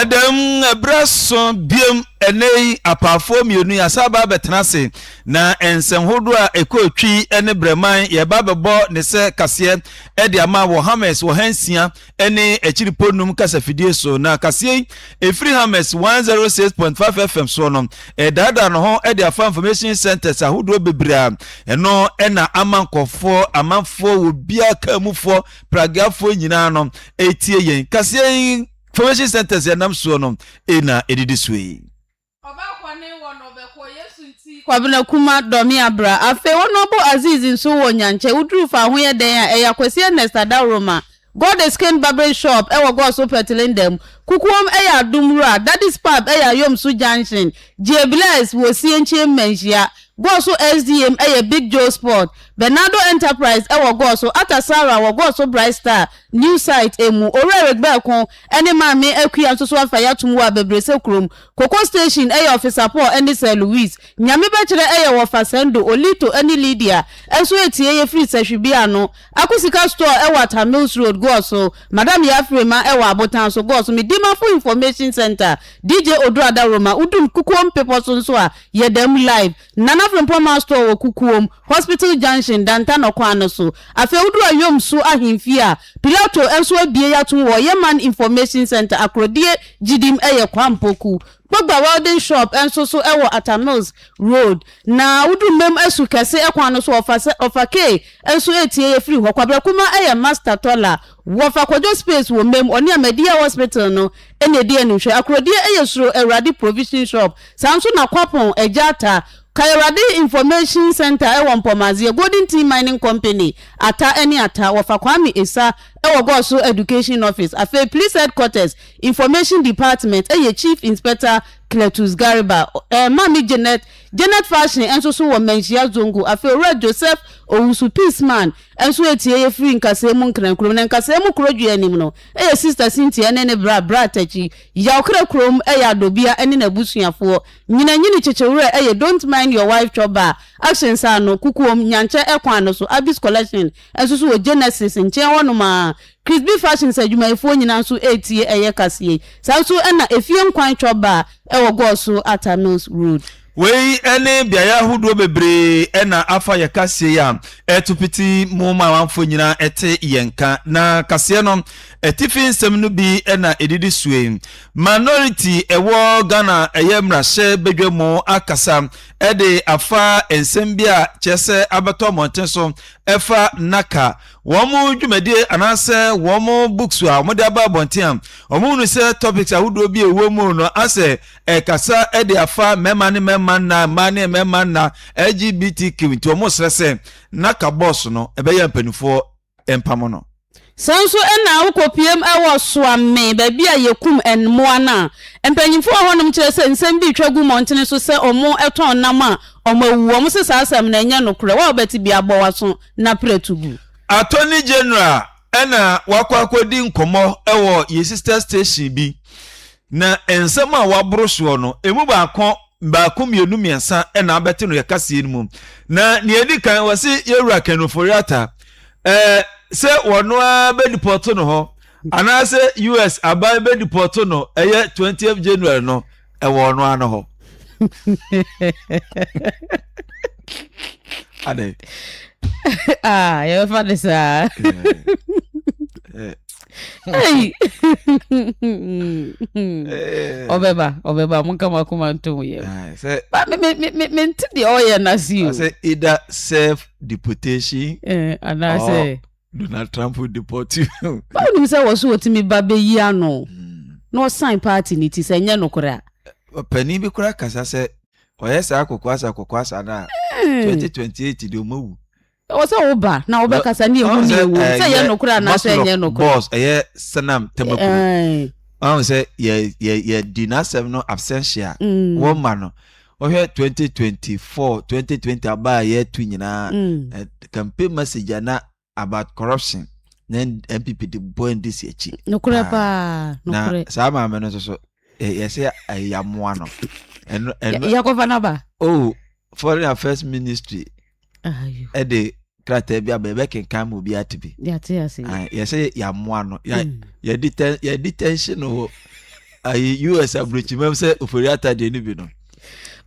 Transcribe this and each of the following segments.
ɛdɛm ɛberɛ so biom ɛnɛ yi apaafoɔ mmienu yi asa aba abɛtena ase na nsɛnhodoɔ a ɛkɔ twi ne brɛman yɛba bɛbɔ ne sɛ kaseɛ ɛde ama wɔ hammers wɔ ha nsia ne akyiri po num kasafidie so, na kaseɛ yi ɛfiri Hammers 106.5 FM soɔ no ɛdaadaa no ho de afa information centers ahodoɔ bebree a ɛno ɛna ama nkɔfoɔ amanfoɔ wɔ bia kamufoɔ pragiafoɔ nyinaa no ɛtie yɛn kaseɛ yi information centers ɛnam soɔ no ɛna ɛdidi soɔ yi Ɔbaa kɔ ne wɔ no bɛ kɔ Yesu nti. Kwabena Kuma dɔ me a bra. Afei wo nɔbo Aziz nso wɔ Nyankyɛ wo duru fa ho yɛ dɛn a ɛyɛ Akwasi Ernest Adaworoma God is king barbering shop ɛwɔ God's Hope Tilindɛm Kukuom ɛyɛ Adom Wura Daddy's pub ɛyɛ Ayomso junction Gye bless wɔ Osienkyie Mmanhyia God's ho SDM ɛyɛ Big Joe Sport Bernardo Enterprise ɛwɔ God's ho Atta Sarah wɔ God's ho Bright Star new site ɛmu Owura Eric Bɛɛko ɛne Maame Akua nso so afa yɛ atom wɔ Abɛbrɛsɛ kurom Koko Station yɛ ɔfesapɔ a ɛne Sir Louis, Nyame bɛkyerɛ yɛ wɔ Fasendo, Olito ne Lydia nso etie yɛ firi Sahwibea no, Ako Sika Store ɛwɔ Atta Mills Road, Goɔ so, Madam Yafrema ɛwɔ Abotan so, Goɔ so, me Dimafo Information Centre, DJ Oduro Adaworoma, Udum, Kukuo Mpepɔ so nso a, yɛdam live. Nana Frimpong Mall Store wɔ Kukuom, Hospital Junction, Dantano kwan no so. Afei woduru Ayom So Ahemfie a, Pilato nso abue yɛato wɔ Yeman Information Centre, Akorodie Gyidim yɛ kwampɔ kuw. Kpogba Welding Shop nso so wɔ Atta Mills Road. Na woduru Mem Asu Kɛse kwan no so wɔ Ɔfa K nso atie yɛ firi hɔ. Kwabrɛ Kumah yɛ Master Tɔla. Wɔfa kwadwo space wɔ mma mu ɔne Ahmadiyya hospital no na ɛdi anim hwɛ akorɔdeɛ yɛ suro awurade provision shop saa nso na kwapɔn agya ata ka awurade information centre wɔ mpɔmazeɛ golden tin mining company ata ne ata wɔfa kwame esa wɔ gɔso education office afei police headquarters information department yɛ chief inspector cletus garba eh, mami janet janet fashion nso so wɔ manhyia zongo afei owura joseph owusu peace man Nso etie ye firi nkasɛɛ mu nkrankuro mu, na nkasɛɛ mu kuro dwe anim no yɛ Sista Cynthia ne ne bra bra Takyi yaw kra kuro mu yɛ Adobia ne n'abusuafoɔ nyina nyini kyekye werɛ yɛ Don't mind your wife chop bar action nsa ano kukuom Nyankyɛ kwan no so Abby's collection nso so wɔ Genesis nkyen hɔ nom aa Chrisby fashions adwumayɛfoɔ nyina nso retie yɛ kaseɛ yi saa nso na Efie Nkwan chop bar wɔ Gɔɔso Atta Mills road. Wei ne beaeɛ ahodoɔ bebree na afa yɛ kaseɛ a ɛto piti mu ma amanfoɔ nyinaa te yɛn nka. Na kaseɛ no atifi nsɛm no bi na ɛdidi soe. Minority ɛwɔ Ghana ɛyɛ mmarahyɛ badwa mu akasa de afa nsɛm bi a kyerɛ sɛ abɛtɔ mmɔnten so ɛfa naka wɔn dwumadie anaasɛ wɔn books a wɔde aba abɔnten a wɔhunu sɛ topics ahodoɔ bi a ɛwɔ mu no asɛ ɛkasa de afa mmarima ne mmarima nna mmaa ne mmarima nna lgbtq nti wɔn srɛ sɛ na ka bɔs no ɛbɛyɛ mpanimfoɔ mpamo no. Saa nso na wokɔpueam wɔ Soame, baabi a yɛkum mmoa no a mpanyimfo wɔ hɔnom kyerɛ sɛ nsɛm bi retwa gu mmɔntene so sɛ wɔtɔn nam a wɔawu. Wɔse saa asɛm no ɛnyɛ nokorɛ. Wo a wobɛte bi abɔ w'aso na prɛtu gu. Attorney General na wakɔ akɔdi nkɔmmɔ wɔ Yesista Station bi. Na nsɛm a wɔaboro soɔ no, ɛmu baako, baako, mmienu, mmiɛnsa na abɛte no yɛ kaseɛ no mu. Na nea ɛdi kan, wɔse yɛn wura Ken Ofori-Atta, ɛɛ, sɛ wɔno ara bɛdipɔto no hɔ, anaasɛ US aban bɛdipɔto no ɛyɛ 20th January no, ɛwɔ ɔno ara no hɔ. Adɛn? Ah, yɛbɛfa ne saa. Eh, eh. Hey! Eh. ɔbɛba ɔbɛba monka mo akoma ntom yɛ Ah, sɛ ba me- me- me- me- mente deɛ ɔyɛ no ase o sɛ either serve deportation Eh, anaasɛ Oh. donald trump will deport you ba wonim sɛ wɔ so wɔtumi ba bɛyi ano Mm. na ɔsan party no ti sɛ ɛnyɛ nokorɛ a ɔpanin bi koraa kasa sɛ ɔyɛ saa kokoasa kokoasa no a 2028 deɛ ɔmawu Ɛwɔ sɛ wo ba na wobɛkasa ne ewu ne ewu sɛ ɛyɛ nokorɛ anaasɛ ɛnyɛ nokorɛ. Boss ɛyɛ Sanam Tamakuo. Wɔn sɛ yɛ yɛ yɛ di n'asɛm no absentia. Mm. Wɔn ma no. Wɔhwɛ 2024 2020 aba a yɛtu nyinaa. Mm. Campaign message na about corruption na NPP de bɔ NDC akyi. Nokorɛ paa. Nokorɛ. Na saa maame no nso so yɛsɛ ɛyamoa no. Ɛno ɛno. Yakɔfa n'aba. Oh foreign affairs ministry. ɛde krataa bi aba yɛbɛkenkan ma obi ate bi yɛsɛ yɛamoa no hmm. yɛdi tension wɔ ayi us aburokyimam sɛ ofori ata deɛ no bi no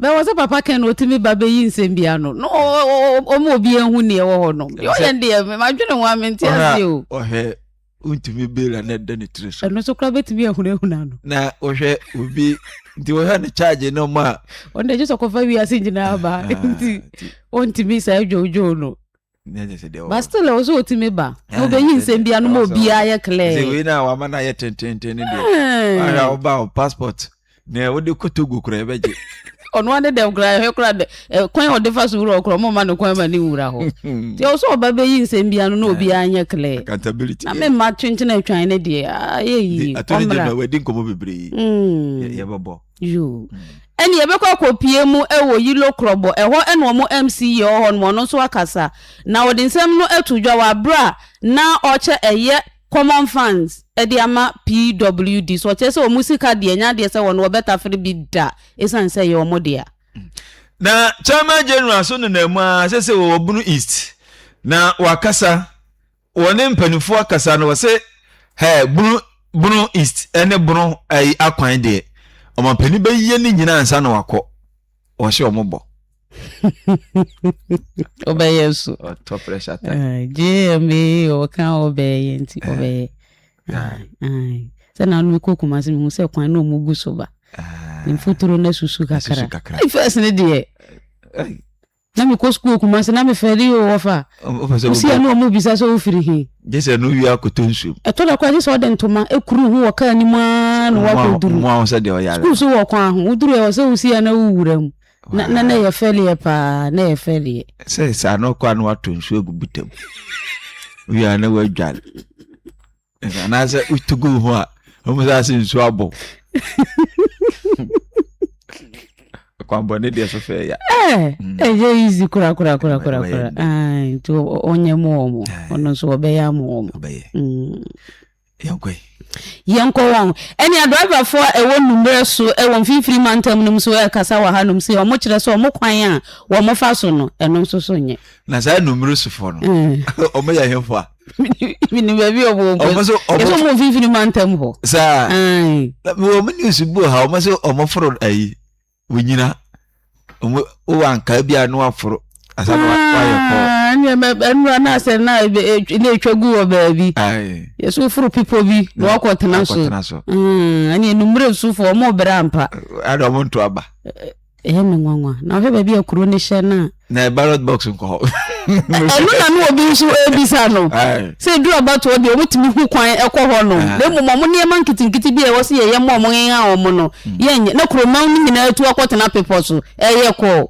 bɛwɔ sɛ papa kɛn na ɔtumi ba bɛyi nsɛm bi ano na ɔma obi ahu neɛ wɔ hɔ no yɛyɛ deɛ madwene ho a mente aseɛ o wontumi bela na ɛda ne tiri so. ɛno nso koraa bɛtumi ahunahuna no. na wohwɛ obi nti wohwɛ ne charge no ma. ɔno de gye sɛ ɔkɔfa wiase nyinaa ba ah, nti wontumi saa dwowdwow no ba still ɛwɔ sɛ ɔtumi ba na ah, wobɛyi nsɛm bia no ma obiaa yɛ clear wei na wama no ayɛ tententen no deɛ woba wo passport nea wode kɔ togo kora ɛbɛgye ɔno ade dɛm kora ɛhwɛ kora dɛ kwan a ɔde fa so wura ɔkora ɔmoma no kwan ma ne nwura hɔ nti ɛwɔ sɛ ɔba bɛyi nsɛm bia no na obiara nyɛ clear accountability na memma twenkyene atwan ne deɛ ayɛ yie attorney general wadi nkɔmmɔ bebree mm. yɛbɛbɔ yo ɛne yɛbɛkɔ akɔpie mu ɛwɔ yilo korɔbɔ ɛhɔ ɛna ɔmo mc yɛ ɔhɔ nom ɔno nso akasa na ɔde nsɛm no ato dwa wɔ abere a na ɔkyɛ ɛyɛ Common funds de ama PWD so ɔkyerɛ sɛ wɔn sika deɛ ɛnyɛ adeɛ sɛ wɔn wɔbɛtafere bi da ɛsiane sɛ ɛyɛ wɔn dea. Na Chairman General so nenam mu ara sɛ sɛ wɔ Obunu East na wakasa wɔ ne mpanimfoɔ akasa no wɔse hɛ bunu bunu East ne bunu ayi akwan deɛ ɔmampanin bɛyɛ ne nyinaa ansa na wakɔ wɔhyɛ wɔn bɔ. ɔbɛyɛ so ɔtɔ pressure ta jma ɔka ɔbɛyɛ nti ɔbɛyɛ sɛ na no kɔ kuma se mehu sɛ kwan na ɔmu gu so ba mfuturo no asusu kakra first ne deɛ na mekɔ sukuu kuma se na mefɛre yi wɔ fa wosia ne ɔmu bisa sɛ wofiri he gye sɛ no wie akɔtɔ nsuom ɛtɔ da koraa gye sɛ ɔde ntoma ɛkuru ho wɔ kaa nim a na wakɔduru sukuu so wɔ kwan ho woduru ɛwɔ sɛ wosia na wowura mu Na na na yɛ fɛliɛ paa na yɛ fɛliɛ. Sɛ saa na ɔkɔ ano ato nsuo agu buta mu. Wia na wadware. Anaasɛ wotu gu ho a wɔn sɛ ase nsuo abɔ. Kwambɔ ne deɛ so fɛ ya. Ɛɛ mm. ɛyɛ easy kura kura kura kura kura. Ɛɛ nti ɔnyɛ mu wɔn ɔno nso ɔbɛyɛ amu wɔn. Ɔbɛyɛ. Mm. Yɛnkɔ. Yɛnkɔ wɔn. Ɛnea driverfoɔ a ɛwɔ Nummerɛ so wɔ mfimfini mantam no mu nso rekasa wɔ hanom sei, wɔkyerɛ sɛ wɔn kwan a wɔfa so no, ɛno nso so nyɛ. Na saa Nummerɛ sofoɔ no, wɔyɛ hefoɔ a? Menim baabi a wɔwɔ mpo. Wɔn nso wɔn. Ɛsɛ wɔn mfimfini mantam hɔ. Saa. Ae. Wɔn news bu ha, wɔn nso wɔforo ayi. onyina ɔmo wowɔ ankaa bi a na waforo asa na wayɛ kɔ. Ah, ɛnna ɛmɛ ɛnura na asɛ na ebe etw na etwa gu wɔ baabi. Ayi. Yɛsɛ oforo pipo bi na wakɔ tena so. Akɔtena so. Mm, ɛnna enumere nsufo ɔmo bere ampa. Ada ɔmo nto aba. Ɛyɛ me nwanwa. Na ɔhwɛ baabi a kuro ne hyɛ no a. na ballot box nkɔ hɔ. ɛno na no obi nso ebisa no sɛ edu abatoɔ deɛ wɔn tumi hu kwan ɛkɔ hɔ no na mmom wɔn nneɛma nketenkete bi a ɛwɔ so yɛ yɛn mu wɔn yɛn a wɔn no mm. yɛnyɛ na kuroman no nyinaa etu akɔtena pepɔ so ɛyɛ kɔɔ.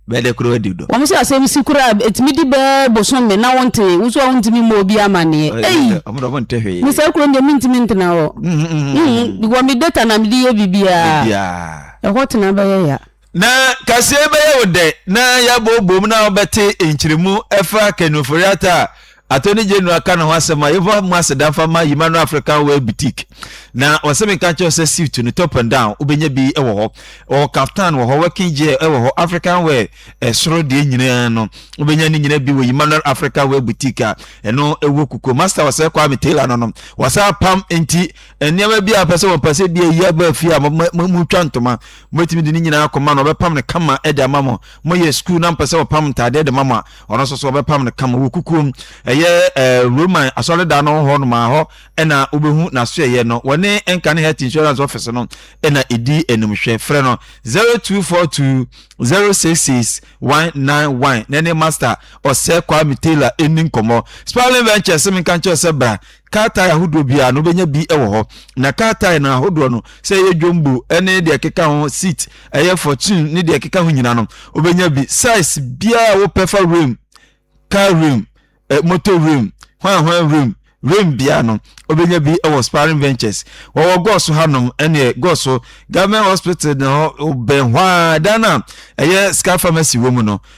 bɛɛdɛ kura di dɔ. wɔn sɛ asɛm si kura etumi di bɛɛ bosom mi na wɔn te nso a wɔn ntumi mɔ obi amaneɛ. eyi nisɛ kuro deɛ mi ntumi ntena hɔ. Mm, mm, wɔn mi data na mi di yɛ bibiara ɛhɔ tena bɛyɛ ya. Na kaseɛ bɛyɛ wo dɛ na yɛabobom na wobɛte nkyeremu ɛfa Ken Ofori-Atta a Attorney General ka ne ho asɛm a yɛfa mu aseda mfa ma Yimano African Wear Boutique. Na ɔsɛ menka nkyerɛ wo sɛ suit no top and down wobɛnya bi wɔ hɔ, ɔwɔ kaftan wɔ hɔ, working gear wɔ hɔ, African wear ɛsoro deɛ nyinaa no wobɛnya ne nyinaa bi wɔ Yimano African Wear Boutique a ɛno ɛwɔ Kukuo. Master ɔsɛ Kwame Taylor no no wɔsan apam nti nneɛma bi a pɛ sɛ wɔpɛ sɛ bi ayi aba fie a motwa ntoma mobɛtumi de ne nyinaa kɔma no ɔbɛpam no kama de ama mo moyɛ sukuu na mpɛ sɛ wɔpam ntaadeɛ de ma mo a ɔno nso so ɔbɛpam no kama wɔ kukuom ɛyɛ eh, roman asɔredan no hɔ nomaa hɔ ɛna wobɛhu n'asoɛyɛ no wɔne ɛnka ne health insurance office no ɛna ɛdi animhwɛ frɛ no 0242 066 191 na ne master ɔsɛ kwame taylor ɛni nkɔmmɔ spalin ventures menka nkyɛw sɛ bra Krataa ahodoɔ biara no wobɛnya bi wɔ hɔ na krataa no ahodoɔ no sɛ ɛyɛ dwombo ne deɛ ɛkeka ho seat ɛyɛ fortune ne deɛ ɛkeka ho nyina no wobɛnya bi size biara wopɛ fa rim car rim eh, motor rim hwan hwan rim rim biara no wobɛnya bi wɔ sparring ventures wɔwɔ gɔɔso hanom ɛneɛ gɔɔso government hospital no bɛn hɔ a dan a ɛyɛ scar pharmacy wɔ mu no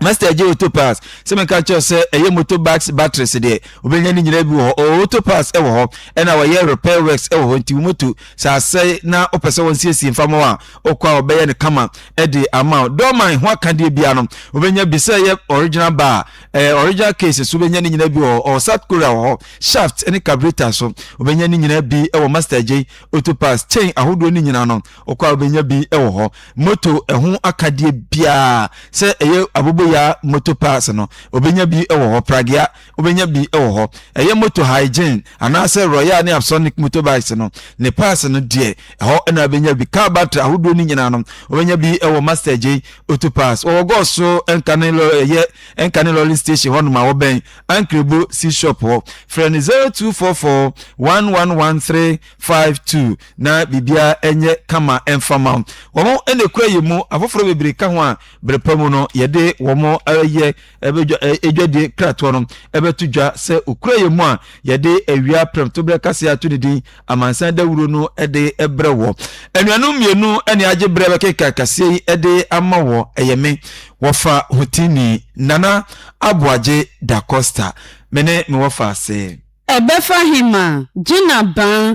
Master Eje Auto Parts sɛ meka kyerɛ sɛ ɛyɛ motorbikes batteries deɛ wobɛnya ne nyinaa bi wɔ hɔ ɔwɔ auto parts wɔ hɔ ɛna wɔyɛ repair works wɔ hɔ nti wo moto sɛ asɛe na wopɛ sɛ wɔnsiesie mfa ma wo a wokɔ a wɔbɛyɛ no kama de ama wo dɔɔman ho akadeɛ bia no wobɛnya bi sɛ ɛyɛ original bar eh, original cases wobɛnya ne nyinaa bi wɔ hɔ ɔwɔ South Korea wɔ hɔ shaft ne carburetor so wobɛnya ne nyinaa bi wɔ Master Eje Auto Parts chain ahodoɔ ne nyinaa no Ɔkɔ a wobɛnya bi wɔ hɔ. Moto ɛho akadeɛ biara sɛ ɛyɛ aboboya moto parts no, wobɛnya bi wɔ hɔ. Pragea, wobɛnya bi wɔ hɔ. Ɛyɛ moto hygiene anaasɛ Royale ne Avsonic motorbikes no, ne parts no deɛ, ɛhɔ na wobɛnya bi. Car battery ahodoɔ no nyinaa no, wobɛnya bi wɔ Master J Auto Parts. Wɔwɔ Gɔs so Nkane lɔ ɛyɛ Nkane lɔri station hɔ nom a wɔbɛn Ankrebo C-shop hɔ. Frɛ no 0244 111 352. na biribiara nyɛ kama mfa ma wo. Wɔn na ekura yɛn mu, afoforo bebree ka ho a, bere pa mu no, yɛde wɔn ayɛ adwadie kratoɔ no bɛto dwa. Sɛ okura yɛn mu a, yɛde awia prɛmtoberɛ kaseɛ ato ne din, Amansan Dawuro no de brɛ wɔ. Anuanom mmienu na agye berɛ bɛkenkan kaseɛ yi de ama wɔ, ɛyɛ me, wɔfa hotini, Nana Aboagye Da Costa, me ne me wɔfa ase. Ɛbɛfa he ma Gina Baa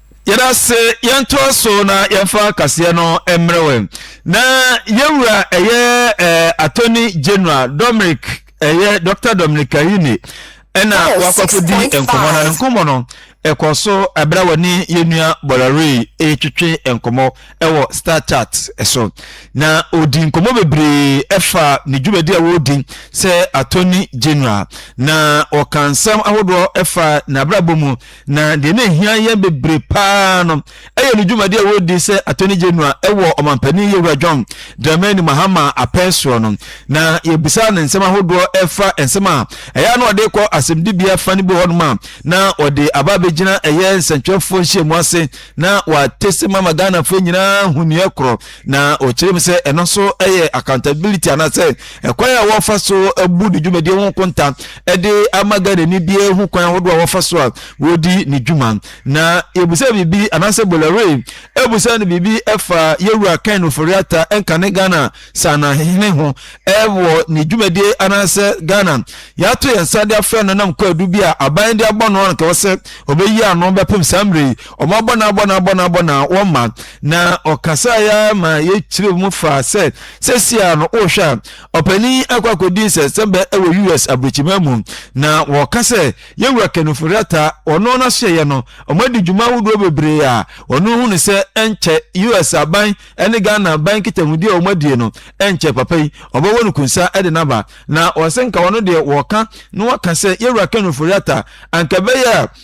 Yɛda ase yɛntoa so na yɛmfa kaseɛ no mmerɛ wɛ na yɛwura ɛyɛ eh, attorney general dominic ɛyɛ eh, dr dominic kahini ɛna wakɔkɔdi nkɔmmɔ no ne nkɔmmɔ no ɛkɔ so ɛberɛ wɔ ne yɛnua bɔlɔrei ɛretwetwe nkɔmmɔ ɛwɔ star chart so na ɔdi nkɔmmɔ bebree ɛfa ne dwumadi a wɔredi sɛ attorney general na ɔka nsɛm ahodoɔ ɛfa n'abrabɔ mu Na deɛ na ɛhia yɛn bebree paa no yɛ ne dwumadi a wɔredi sɛ Attorney General wɔ ɔmampanin Yewura John Dramani Mahama apɛn soɔ no. Na yɛbisaa no nsɛm ahodoɔ ɛfa nsɛm a ɛyɛ a na ɔde kɔ asɛmdibea fa no bi wɔ hɔnom a na ɔde aba abɛgyina ɛyɛ nsɛntwerɛfoɔ nhyiamu ase na wɔate sɛm ama Ghanafoɔ nyinaa ahu neɛ korɔ Na ɔkyerɛ mu sɛ ɛno nso yɛ accountability anaasɛ ɛkwan a wɔfa so bu ne dwumadie ho nkonta de ama Ghanani biara hu kwan ahodoɔ a wɔfa so a wɔdi ne dwuma. Na yɛbusa biribi anaasɛ Bolore abusa no biribi ɛfa Yɛwura Ken Ofori-Atta nkane Ghana saanahene ho wɔ ne dwumadie anaasɛ Ghana yɛato yɛn nsa de afrɛ no nam kwaadu bi a aban de abɔ no a anka ɛwɔ sɛ ɔbɛyi ano bɛpem saa mmerɛ yi Wɔn abɔ no abɔ no abɔ no abɔ no wɔma na ɔkasa ya ma yɛkyerɛ mu fa sɛ sɛsia no wohwɛ a ɔpanin akɔ akɔdi nsɛnsɛmbɛ wɔ US aburokyima mu na wɔka sɛ yɛwura Kenneth Rata ɔno n'asoɛyɛ no ɔmadi dwuma ahodoɔ bebree a ɔno hu no sɛ ɛnkyɛ US aban ne Ghana aban nkitahudi a wɔadie no ɛnkyɛ papa yi ɔbɛwɔ no kunsa de naba na ɔsɛ nka ɔno deɛ wɔka na wɔka sɛ yɛwura Kenneth Rata anka bɛyɛ a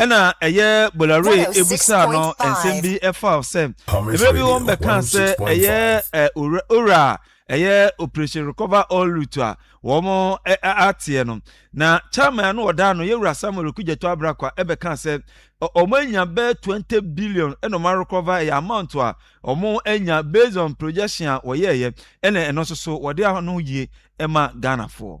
Ɛna ɛyɛ Bolloré ebusaa no nsɛm bi ɛfa sɛ mmerɛ bi wɔn bɛkaa sɛ ɛyɛ ɛ owura owura a ɛyɛ operation recover all loot a wɔn ɛ ateɛ no na chairman ano ɔda ano yɛ wura Samuel Okudzeto Abrakwa ɛbɛkaa sɛ wɔn anya bɛ twenty billion ɛna wɔn arecover ɛyɛ amount a wɔn anya based on projection a wɔyɛɛyɛ ɛna ɛno nso so wɔde ano yie ɛma Ghanafoɔ.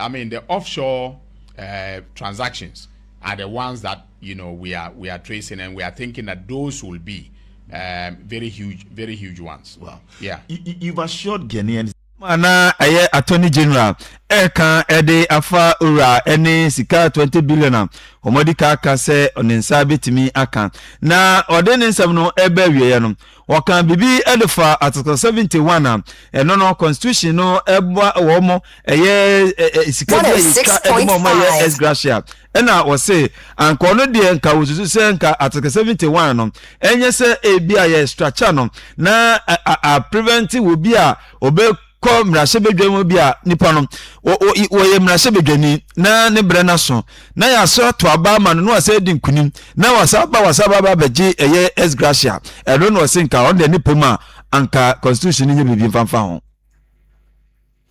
I mean the offshore uh, transactions are the ones that you know we are we are tracing and we are thinking that those will be um, very huge very huge ones. Wow. Yeah. You, you've assured Ghanaians. na ɛyɛ attorney general ɛka ɛde afa owura ɛne sika 20 billion a wɔde ka aka sɛ ne nsa betumi aka na ɔde ne nsɛm no ɛbɛ awieɛ no Wɔkaa biribi de faa Article 71 a ɛno no Constitution no ɛboa wɔn ɛyɛ sika bi a yɛtwa de ma wɔn ɛyɛ ex gratia ɛna wɔse anka ɔno deɛ nka wɔsusu sɛ nka Article 71 no ɛnyɛ sɛ ebi a yɛ structure no na a prevent wɔ bi a ɔbɛ kɔ mmarahyɛbadwam bi a nipa no wɔyɛ mmarahyɛbadwani na ne brɛ no aso na yɛaso ato aba ama no na wɔsɛ adi nkunim na wɔsa ba wɔsa ba ba bɛgye ɛyɛ ex gratia ɛno na ɔse nka ɔno deɛ ne pɛ mu a anka constitution no nyɛ biribi mfamfa ho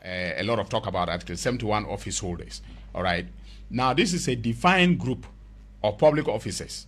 Uh, a lot of talk about Article 71 office holders. All right. Now, this is a defined group of public officers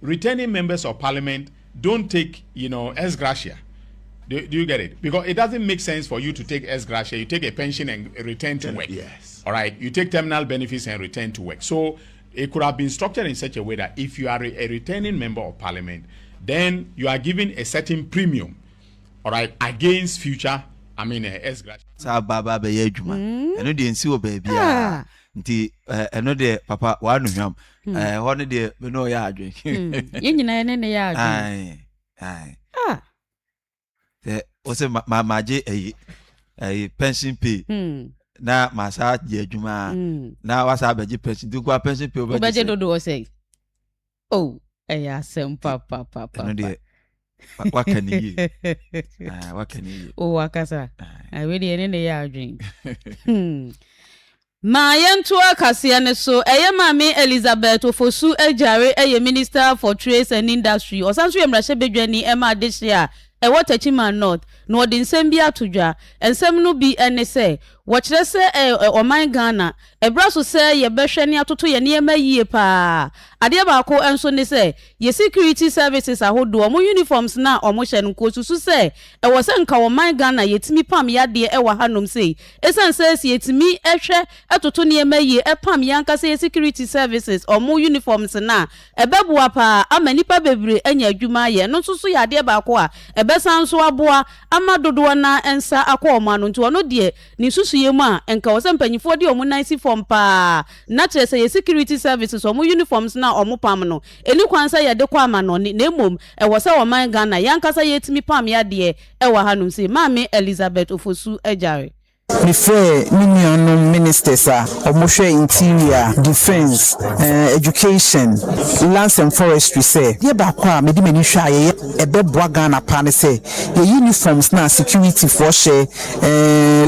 Returning members of parliament don't take you know ex gratia do, do you get it because it doesn't make sense for you to take ex gratia you take a pension and return to work yes. all right you take terminal benefits and return to work so it could have been structured in such a way that if you are a returning member of parliament then you are given a certain premium all right against future i mean uh, ex gratia saa ba ba bɛyɛ adwuma ɛno deɛ nsi wɔ baabi a nti ɛno deɛ papa wɔanohwam Hmm. Eh, hɔ no deɛ me ne ɔyɛ adwen hmm. yɛ nyina yɛne ne yɛ adwen ah. sɛ wo sɛ magye ayi ayi pension pay hmm. na masaa gye adwuma na wasaa bɛgye pension nti nkoa pension pay wobɛgye dodoɔ sɛ o oh, ɛyɛ asɛm papapapa ɛno deɛ waka ne yie ah, waka ne yie o wakasa ah. awi deɛ ne ne yɛ adwen hmm. ma yɛnto akaseɛ no so ɛyɛ maame elizabeth ofosu agyare ɛyɛ minister for trade and industry ɔsan nso yɛ mmarahyɛ badwani ɛma adehye a ɛwɔ tachiman north na ɔde nsɛm bi ato dwa nsɛm no bi ne sɛ wɔkyerɛ sɛ ɔman ghana Ɛbra so sɛ yɛbɛhwɛ ne atoto yɛn nneɛma yie paa. Adeɛ baako nso ne sɛ, yɛ security services ahodoɔ wɔn uniforms no a wɔhyɛ no nkosusu sɛ ɛwɔ sɛ nka wɔ man Ghana yɛtumi pam yadeɛ ɛwɔ ha nom sei. Ɛsiane sɛ sɛ yɛtumi hwɛ toto nneɛma yie pam yɛn ankasa yɛ security services wɔn uniforms no a ɛbɛboa paa ama nnipa bebree anya adwuma ayɛ. Ɛno nso so yɛ adeɛ baako a ɛbɛsan nso aboa ama dodoɔ no ara nsa akɔ wɔn ano nti wɔn deɛ Ne nsusuiɛ mu a, nka ɛwɔ sɛ mpaninfoɔ de wɔn nan si fam paa, na kyerɛ sɛ yɛ security services wɔn uniforms no a wɔn pam no, ɛni kwan sɛ yɛde kɔ amanɔne, na mmom ɛwɔ sɛ ɔman Ghana yɛn ankasa yɛtumi pam yadeɛ ɛwɔ ha nom, se Maame Elizabeth Ofosu Agyare. Me frɛɛ me nua nom ministers a wɔn hwɛ interior, defence, eh, education, lands and forestry sɛ, deɛ baako a mede m'ani hwɛ a yɛyɛ a ɛbɛboa Ghana paa ne sɛ yɛ uniforms no a security foɔ hyɛ,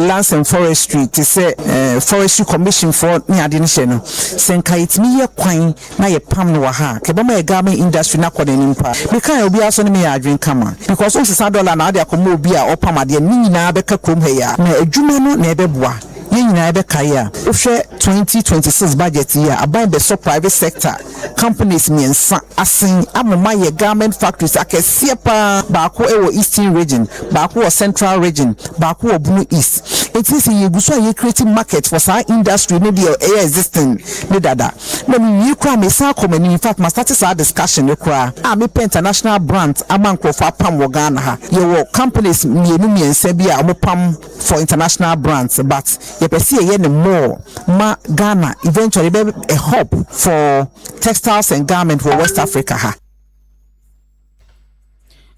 lands and forestry te sɛ forestry commission foɔ ne adeɛ no hyɛ no sɛ nka yɛtumi yɛ kwan na yɛ pam no wɔ ha kɛ bɛma yɛ garment industry na kɔ n'anim paa meka yɛ obiara so ne meyɛ adwene kama because wosesa dɔla na ade akɔmɔ obi a ɔpam adeɛ ne nyinaa bɛka kurom ha yi a na adwuma no na ɛbɛboa yɛ nyinaa ɛbɛkae a wohwɛ 2026 budget yi a aban bɛsɔ private sector Companies mmiɛnsa asen ama moayɛ garment factories akɛseɛ paa, baako wɔ Eastern Region, baako wɔ Central Region, baako wɔ Bono East. Enti sɛ yɛgu so a yɛ create market for saa industry no deɛ ɛyɛ existing no dada. Na mewie koraa a mesan akɔ m'anim, in fact ma start saa discussion no koraa a mepɛ international brands ama nkorɔfoɔ apam wɔ Ghana ha. Yɛwɔ companies mmienu mmiɛnsa bi a wɔpam. for international brands but yɛpɛ sɛ yɛyɛ no more ma Ghana eventually bɛ a hub for textiles and garment wɔ West Africa ha.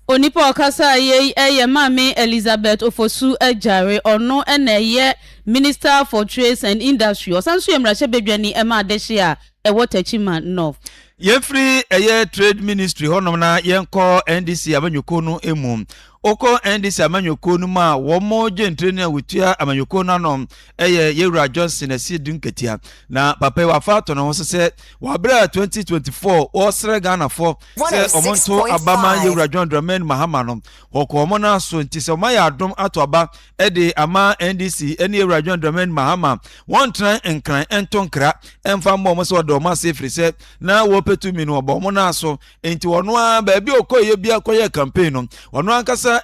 Onipa a ɔkasaeɛ yi yɛ Maame Elizabeth Ofosu Agyare. Ɔno na ɛyɛ Minister for Trades and Industry. Ɔsan nso yɛ mmarahyɛbadwani ma adehye a ɛwɔ Techiman North. Yɛmfiri ɛyɛ Trade Ministry hɔnom na yɛnkɔ NDC amanyɔkuo no mu. Wokɔ NDC amanyɔkuo no mu a, wɔn gyentire no a wɔtua amanyɔkuo no ano yɛ Yɛwura Johnson Asiedu Nketia. Na papa yi wafa ato ne ho so sɛ wabrɛ 2024 wɔresrɛ Ghanafoɔ sɛ wɔn nto aba ma Yɛwura John Dramani Mahama no, wɔkɔ wɔn nan so nti sɛ wɔayɛ adom ato aba de ama ndc ne awura john dramani mahama wɔntena nkran nto nkra mfa mmɔ wɔn sɛ wɔda wɔn ase firi sɛ na wɔpɛ tumi no wɔbɔ wɔn nan so nti ɔno ara baabi ɔkɔyɛ bi akɔyɛ campaign no ɔno ankasa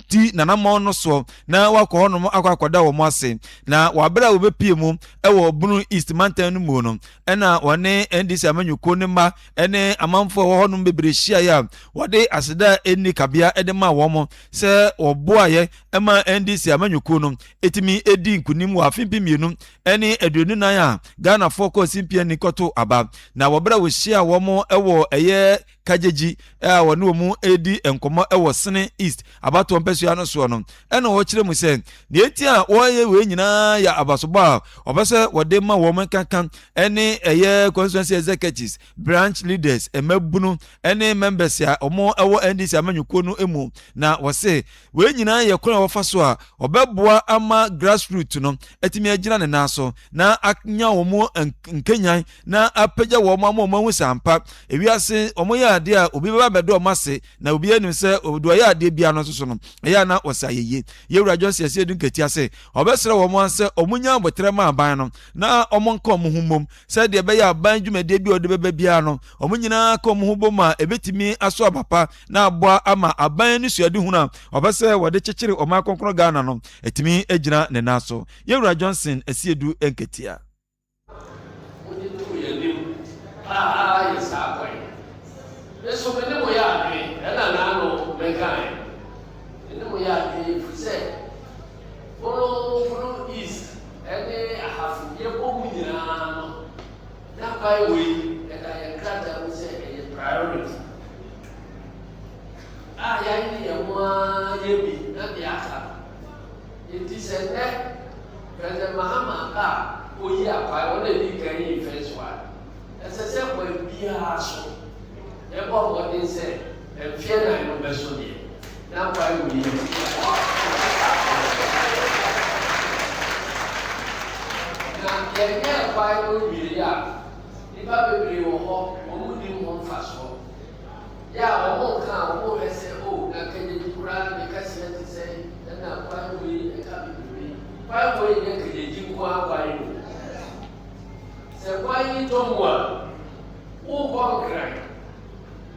di nanamɔn no soɔ na wakɔ hɔnom akɔ akɔda wɔn ase na wɔabrɛ a wɔbɛpie mu wɔ bunu east mantan no mu no ɛna wɔne ndc amanyɔkuo ne mma ne amanfoɔ a wɔhɔnom bebree hyiaeɛ a wɔde aseda ɛnni kabea de ma wɔn sɛ wɔboaeɛ ɛma NDC amanyɔkuo no ɛtumi ɛdi nkunim wɔ afe mpem mmienu ne aduonu nan a Ghanafoɔ kɔɔ simpia ni kɔto aba na wɔbrɛ wo hyia wɔn ɛwɔ ɛyɛ kagyegyi a wɔne wɔn ɛredi nkɔmmɔ ɛwɔ Sene East abatoɔ mpɛsoa no soɔ no ɛna wɔkyerɛ mu sɛ deɛ nti a wɔyɛ wei nyinaa yɛ abasobɔ a wɔpɛ sɛ wɔde ma wɔn nkankan ɛne ɛyɛ constituency executives branch leaders, mmabunu ne members a wɔwɔ NDC amanyɔkuo no mu na wɔse wei nyinaa yɛ kwan a wɔfa so a wɔbɛboa ama grassroots no atumi agyina ne nan so na anya wɔn nkanyan na apagya wɔn ama wɔn ahu sɛ ampa ewiase wɔn yɛ adeɛ a obi bɛba bɛdɔ wɔn ase na obi anim sɛ obi ɔyɛ adeɛ biara no nso so no ɛyɛ na wɔsɛ ayɛyie yɛwura Johnson ɛsɛ edu nketease wɔbɛsrɛ wɔn ansɛ wɔn nyɛ abotire ma aban no na wɔn nka wɔn ho mmom sɛdeɛ ɛbɛyɛ a ban dwumadie bi a ɔde bɛba biara no wɔn nyinaa ka wɔn ho bom a ɛbɛtumi aso aba pa na aboa ama aban ani suadehunu a wɔpɛ sɛ wɔde kyekyere ɔman kronkron ghana no ɛtumi agyina ne nan so yɛwura johnson asiedu nketea nso me ne mo yɛ adwene ɛna naano mɛkae me ne mo yɛ adwene ɛfiri sɛ Borɔforo East ne Ahafo yɛbɔ mu nyinaa no na kwae wei ɛda yɛn krataa mu sɛ ɛyɛ priority a yɛayɛ yɛn ho ara yɛ bi na deɛ aka no nti sɛ nnɛ President Mahama a oyi akwae wɔn a ɛdi kan yi first one ɛsɛ sɛ kwan biara so yɛbɔ mmɔden sɛ Mfeɛ nan no bɛso deɛ, na Bible yi ne tebea a ɛfa ho no wɔ Bible mu pɛpɛɛpɛ. Na yɛnyɛɛ Bible nwieeɛ a, nnipa bebree wɔ hɔ, wɔn nnim ho mfasoɔ. Yɛ a wɔn reka a, wɔn rehwɛ sɛ, O, na Kejedi koraa ne kɛseɛ te sɛn, ɛnna Bible yi ka bebrebe. Bible yi nyɛ Kejedi nko ara guan o. Sɛ guan yi tɔ mu a, worekɔ Nkran.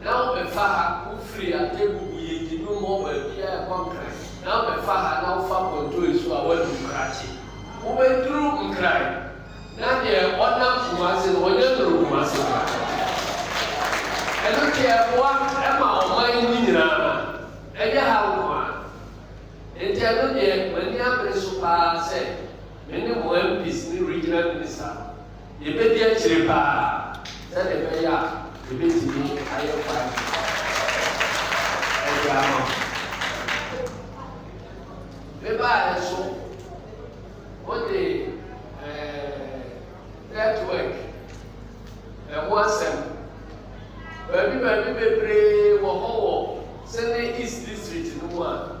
na wo bɛfa ha, wo firi Atebu Buyedi no mmɔ baabi a ɛkɔ Nkran, na wo bɛfa ha na wo fa Pontoi so a woadu Nkrakye. Wo bɛduru Nkran, na deɛ ɔnam Kumase no ɔnyɛ nnuru Kumase koraa. Ɛno deɛ ɛboa ma ɔman yi mu nyinaa, ɛnyɛ ha nko ara. Enti ɛno deɛ m'ani abere so pa ara sɛ me ne mo MPs ne Regional Minister Yɛbɛdi akyire paa sɛdeɛ ɛbɛyɛ a yɛbɛtumi ayɛ kwan de ama mo. Me baeɛ nso, mode network ɛho asɛm, baabi baabi bebree wɔ hɔ wɔ Seme East District no mu a.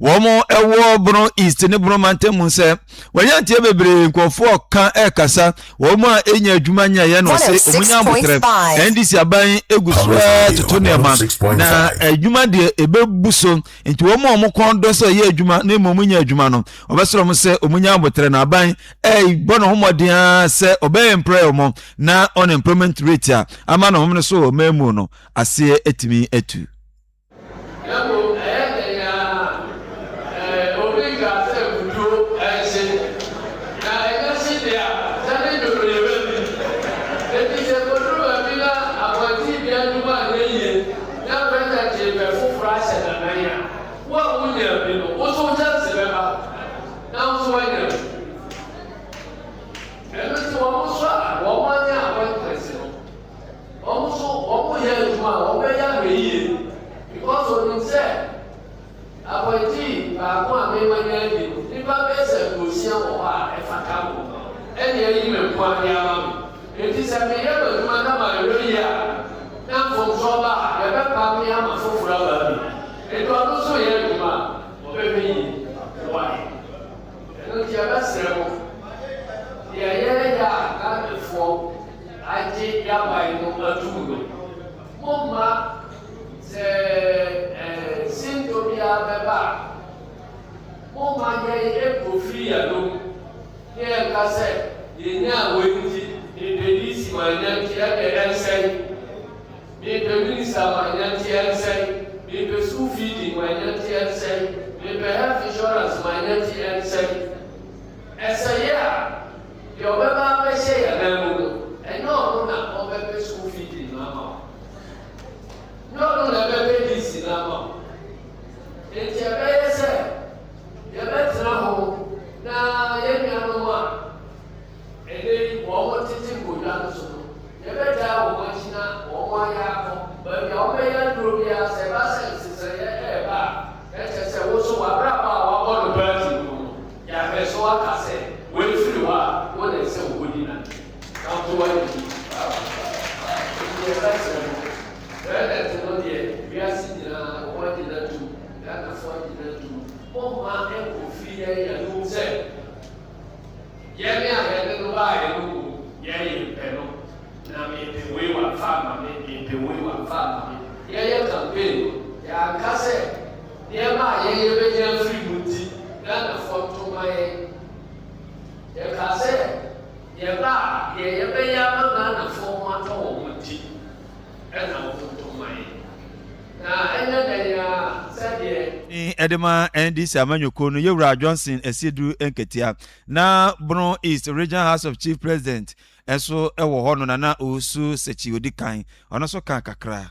wɔn ɛwɔ bono east ne bono mantam mu sɛ wɔyɛ nteɛ bebree nkurɔfoɔ ka ɛkasa wɔn a ɛnya adwuma nyɛyɛ na ɔse ɔmo nya abotrɛ ndc aban egu so toto nneɛma na adwuma deɛ ɛbɛbu so nti wɔn a ɔmo kɔn dɔ sɛ ɔyɛ adwuma na mmom nya adwuma no ɔbɛsrɛ ɔmo sɛ ɔmo nya abotrɛ na aban ɛbɔ ne ho mmɔden a sɛ ɔbɛyɛ mprɛ ɔmo na unemployment rate a ama na ɔmo no so wɔ ɔmo mu no aseɛ atumi atu Na mmom ɛyɛ dɛn ara a, ɛɛ, obi nkaa sɛ mmutuo nhye, na ɛnyɛ hye deɛ a, sɛ ne dwom no yɛbɛ di. Enti sɛ ɛkɔduru baabi na abɔnten dua adwuma anyɛ yie na prɛtɛ kyeepɛ foforɔ ahyɛ no nan a, wo a wonyaa bi no, wo nso wo kyɛnse bɛba na wo nso woanya bi. Ɛno nti wɔn nso a wɔn anya appointment no, wɔn nso wɔn yɛ adwuma a wɔbɛyɛ ahwɛ yie because onim sɛ apɔntii baako a mema nya adi no nipa bɛyɛ sɛ aduosia wɔ hɔ a ɛfata mo ɛne ayi me nko ade ama me enti sɛ meyɛ m'adwuma na mayɛ yie a na mfomsoɔ ba a yɛbɛpa me ama foforɔ aba bi enti ɔno nso yɛ adwuma a wɔbɛhwɛ yie wae ɛno nti yɛbɛsrɛ mo deɛ yɛyɛ a Ghanafoɔ agye daban no atum no, mommma sɛ sintɔ biara bɛba a, mommma yɛn nkofiri yɛn anom na yɛnka sɛ yɛnyaa wei nti mepɛ DC ma ɛnante, ɛnde ɛnsɛe, mepɛ Minista ma ɛnante, ɛnsɛe, mepɛ Sukuu Fiidi ma ɛnante, ɛnsɛe, mepɛ Health Insurance ma ɛnante, ɛnsɛe. Ɛsɛeɛ a, Deɛ ɔbɛba abɛhyɛ yɛn nan mu no, ɛnyɛ ɔno na ɔbɛpɛ school feeding no ama wo. Nyɛ ɔno na ɛbɛpɛ lease no ama wo. Enti ɛbɛyɛ sɛ yɛbɛtena ho na yɛn nuanom a ɛnɛ yi wɔn tete nkonnwa no so no, yɛbɛgyaa wɔn akyi na wɔn ayɛ akɔ baabi a wɔbɛyɛ aduro biara sɛ ɛba sɛ nsesaeɛ ɛreba a, na kyerɛ sɛ wo nso w'abrabɔ a wabɔ no paa ti no ho no, Yahwɛ so aka sɛ, Wɔafiri hɔ a, wo na ɛsɛ wobɔdi no ade. Kamfo w'adidi. Enti deɛ ɛbɛsɛ no, toilet no deɛ, wiase nyinaa wɔn agyina atum, Ghanafoɔ agyina atum, momma ɛnkɔfiri yɛn anom sɛ, yɛn a yɛde no baeɛ no mmom, yɛn yɛmpɛ no, na mempɛ wei wamfa amma me, mempɛ wei wamfa amma me. Yɛyɛ campaign no, yɛanka sɛ. Nneɛma a yɛn yɛbɛgye afiri mu nti Ghanafoɔ nto mma yɛn. Yɛkaa sɛ yɛba a deɛ yɛbɛyɛ ama Ghanafoɔ ho atɔ wɔn nti na wɔn nto mma yɛn. Na ɛnyɛ dɛn ara sɛdeɛ. Din de ma NDC amanyɔkuo no Yɛwura Johnson Asiedu Nketia. Na Bono East Regional House of Chief President nso wɔ hɔ no Nana Owusu Sekyi Odikan. Ɔno nso kaa kakra.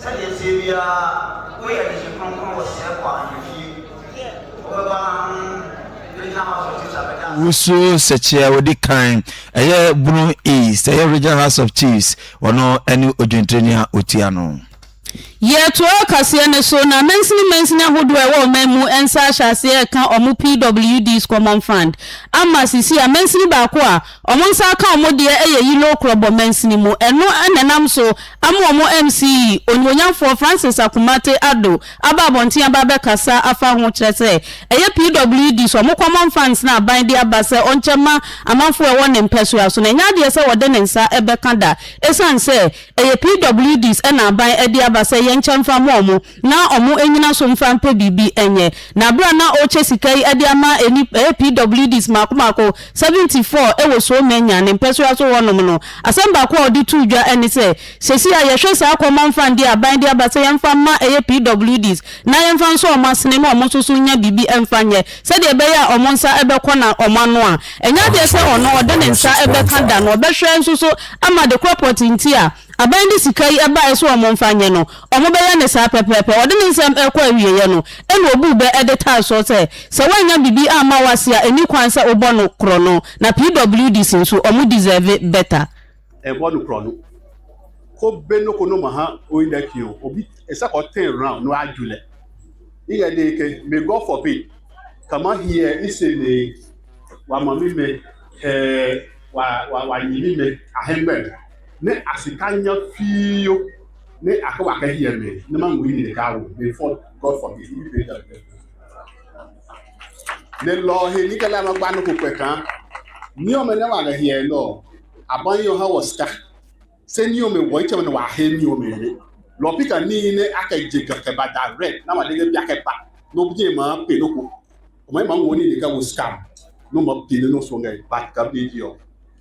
Sɛdeɛ ɛteɛ biara, woyɛ adehye kronkron wɔ Sɛɛkɔ ahemfie. Wobɛba na ho bɛgyina House of Chiefs abɛda ase. Wusu sɛkyɛ a odi kan ɛyɛ Bono East ɛyɛ Regional House of Chiefs ɔno ɛne odwintonini a otua no. Yɛ to ɔkaseɛ no so na mansini mansini ahodoɔ a ɛwɔ ɔman mu nsa ahyɛ aseɛ reka wɔn PWD's Common Fund ama sisi a mansini baako a Ɔmo nsa aka ɔmo deɛ ɛyɛ yellow krɔbɔ mansini mu, ɛno na ɛnam so ama ɔmo MC, Onimuonyamfoɔ Francis Akumate Addo aba abɔnten aba abɛkasa afa ho, kyerɛ sɛ ɛyɛ PWD so, ɔmo common funds na aban de aba sɛ ɔnkyɛ mma amanfoɔ a ɛwɔ ne mpɛsoa so na ɛnyɛ adeɛ sɛ ɔde ne nsa bɛka da, ɛsiane sɛ ɛyɛ PWDs na aban de aba sɛ yɛnkyɛ mfa mma ɔmo. na wɔannyina so mfa mpɛ biribi nyɛ. Na bere a na ɔrekyɛ sika yi de ama nnipa ɛyɛ PWDs mmaako mmaako, 74 wɔ Soe Mannya ne mpɛsoa so hɔnom no, asɛm baako a ɔde too dwa ne sɛ, Seesei a yɛhwɛ saa akɔmamfran deɛ a aban de aba sɛ yɛmfa mma ɛyɛ PWDs na yɛmfa nsɔ wɔn asene na wɔn nso so nnya biribi mfa nyɛ sɛdeɛ ɛbɛyɛ a wɔn nsa bɛkɔ na wɔn ano a ɛnyɛ adeɛ sɛ ɔno ɔde ne nsa bɛka da no ɔbɛhwɛ nso so ama de koropɔt nti a Abɛn de sika yi baeɛ sɛ wɔmfa nyɛ no, wɔbɛyɛ no saa pɛpɛɛpɛ. Ɔde ne nsɛm rekɔ awieeɛ no, ɛnna ɔbuu bɛ de taa so sɛ, sɛ woannya biribi amma wo ase a, ɛnni kwan sɛ wobɔ no korɔno. Na PWDs nso, wɔn deserve better. Ɛbɔ no korɔno. Ko be no ko no ma ha oyin da ki o, obi esa kɔ ten round no a ju lɛ. Ni yɛ de ke, may God forbid, kama hiɛ i se me wa ma mi me hɛ wa wa wa nyi mi me ahɛn bɛn. ne asekanya fio ne aka w'akadi yɛ me ne ma nwui ne ka wo me for God for me ibi pe da pe ne lɔ he ni kɛlɛ ma gba no ko pɛ kan ni ɔmɛ ne wa lɛ hiɛ lɔ aban yɛ ɔha wɔ sika sɛ ni ɔmɛ wɔ ikyɛ ne wa he ni ɔmɛ ne lɔ pika ni ne akɛ je kɛkɛ ba da rɛ na wa dege bi akɛ ba no bje ma pe no ko ɔmɛ ma nwɔ ni ne ka wo sika no ma pe ne no so ngɛ ba ka bi di ɔ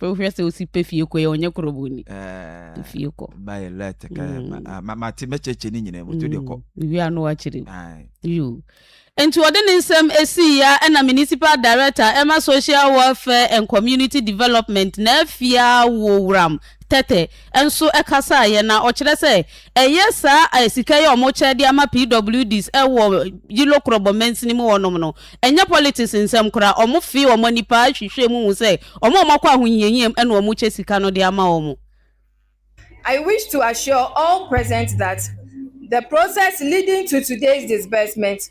wohwɛ sɛ wosi pɛ fie kɔ yɛ ɔnyɛ korɔbɔni eh, fie kɔ bayɛ lɛt ka mate mɛkyɛkyɛ ne nyina moto de kɔ wie ano akyerɛ yo nti ɔde ne nsɛm ɛsii ya ɛna municipal director ɛma social welfare and community development na afia wɔ wuram tɛtɛ nso kasaeɛ na ɔkyerɛ sɛ ɛyɛ saa sika yi a wɔkyɛ de ama PWDs wɔ Yilokrɔbɔ mansini mu hɔnom no, ɛnyɛ politics nsɛm koraa. Wɔfee wɔn ani paa hwehwɛɛ mu hu sɛ wɔn a wɔakɔ ahohiahia mu na wɔkyɛ sika no de ama wɔn. I wish to assure all present that the process leading to today's disbursement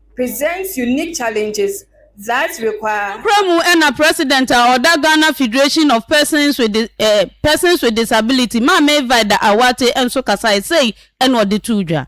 presents unique challenges that require. Nokorɛ mu na President a ɔda Ghana Federation of Persons with Dis eh Persons with Disability, Maame Vida Awate nso kasaeɛ, sei na ɔde too dwa.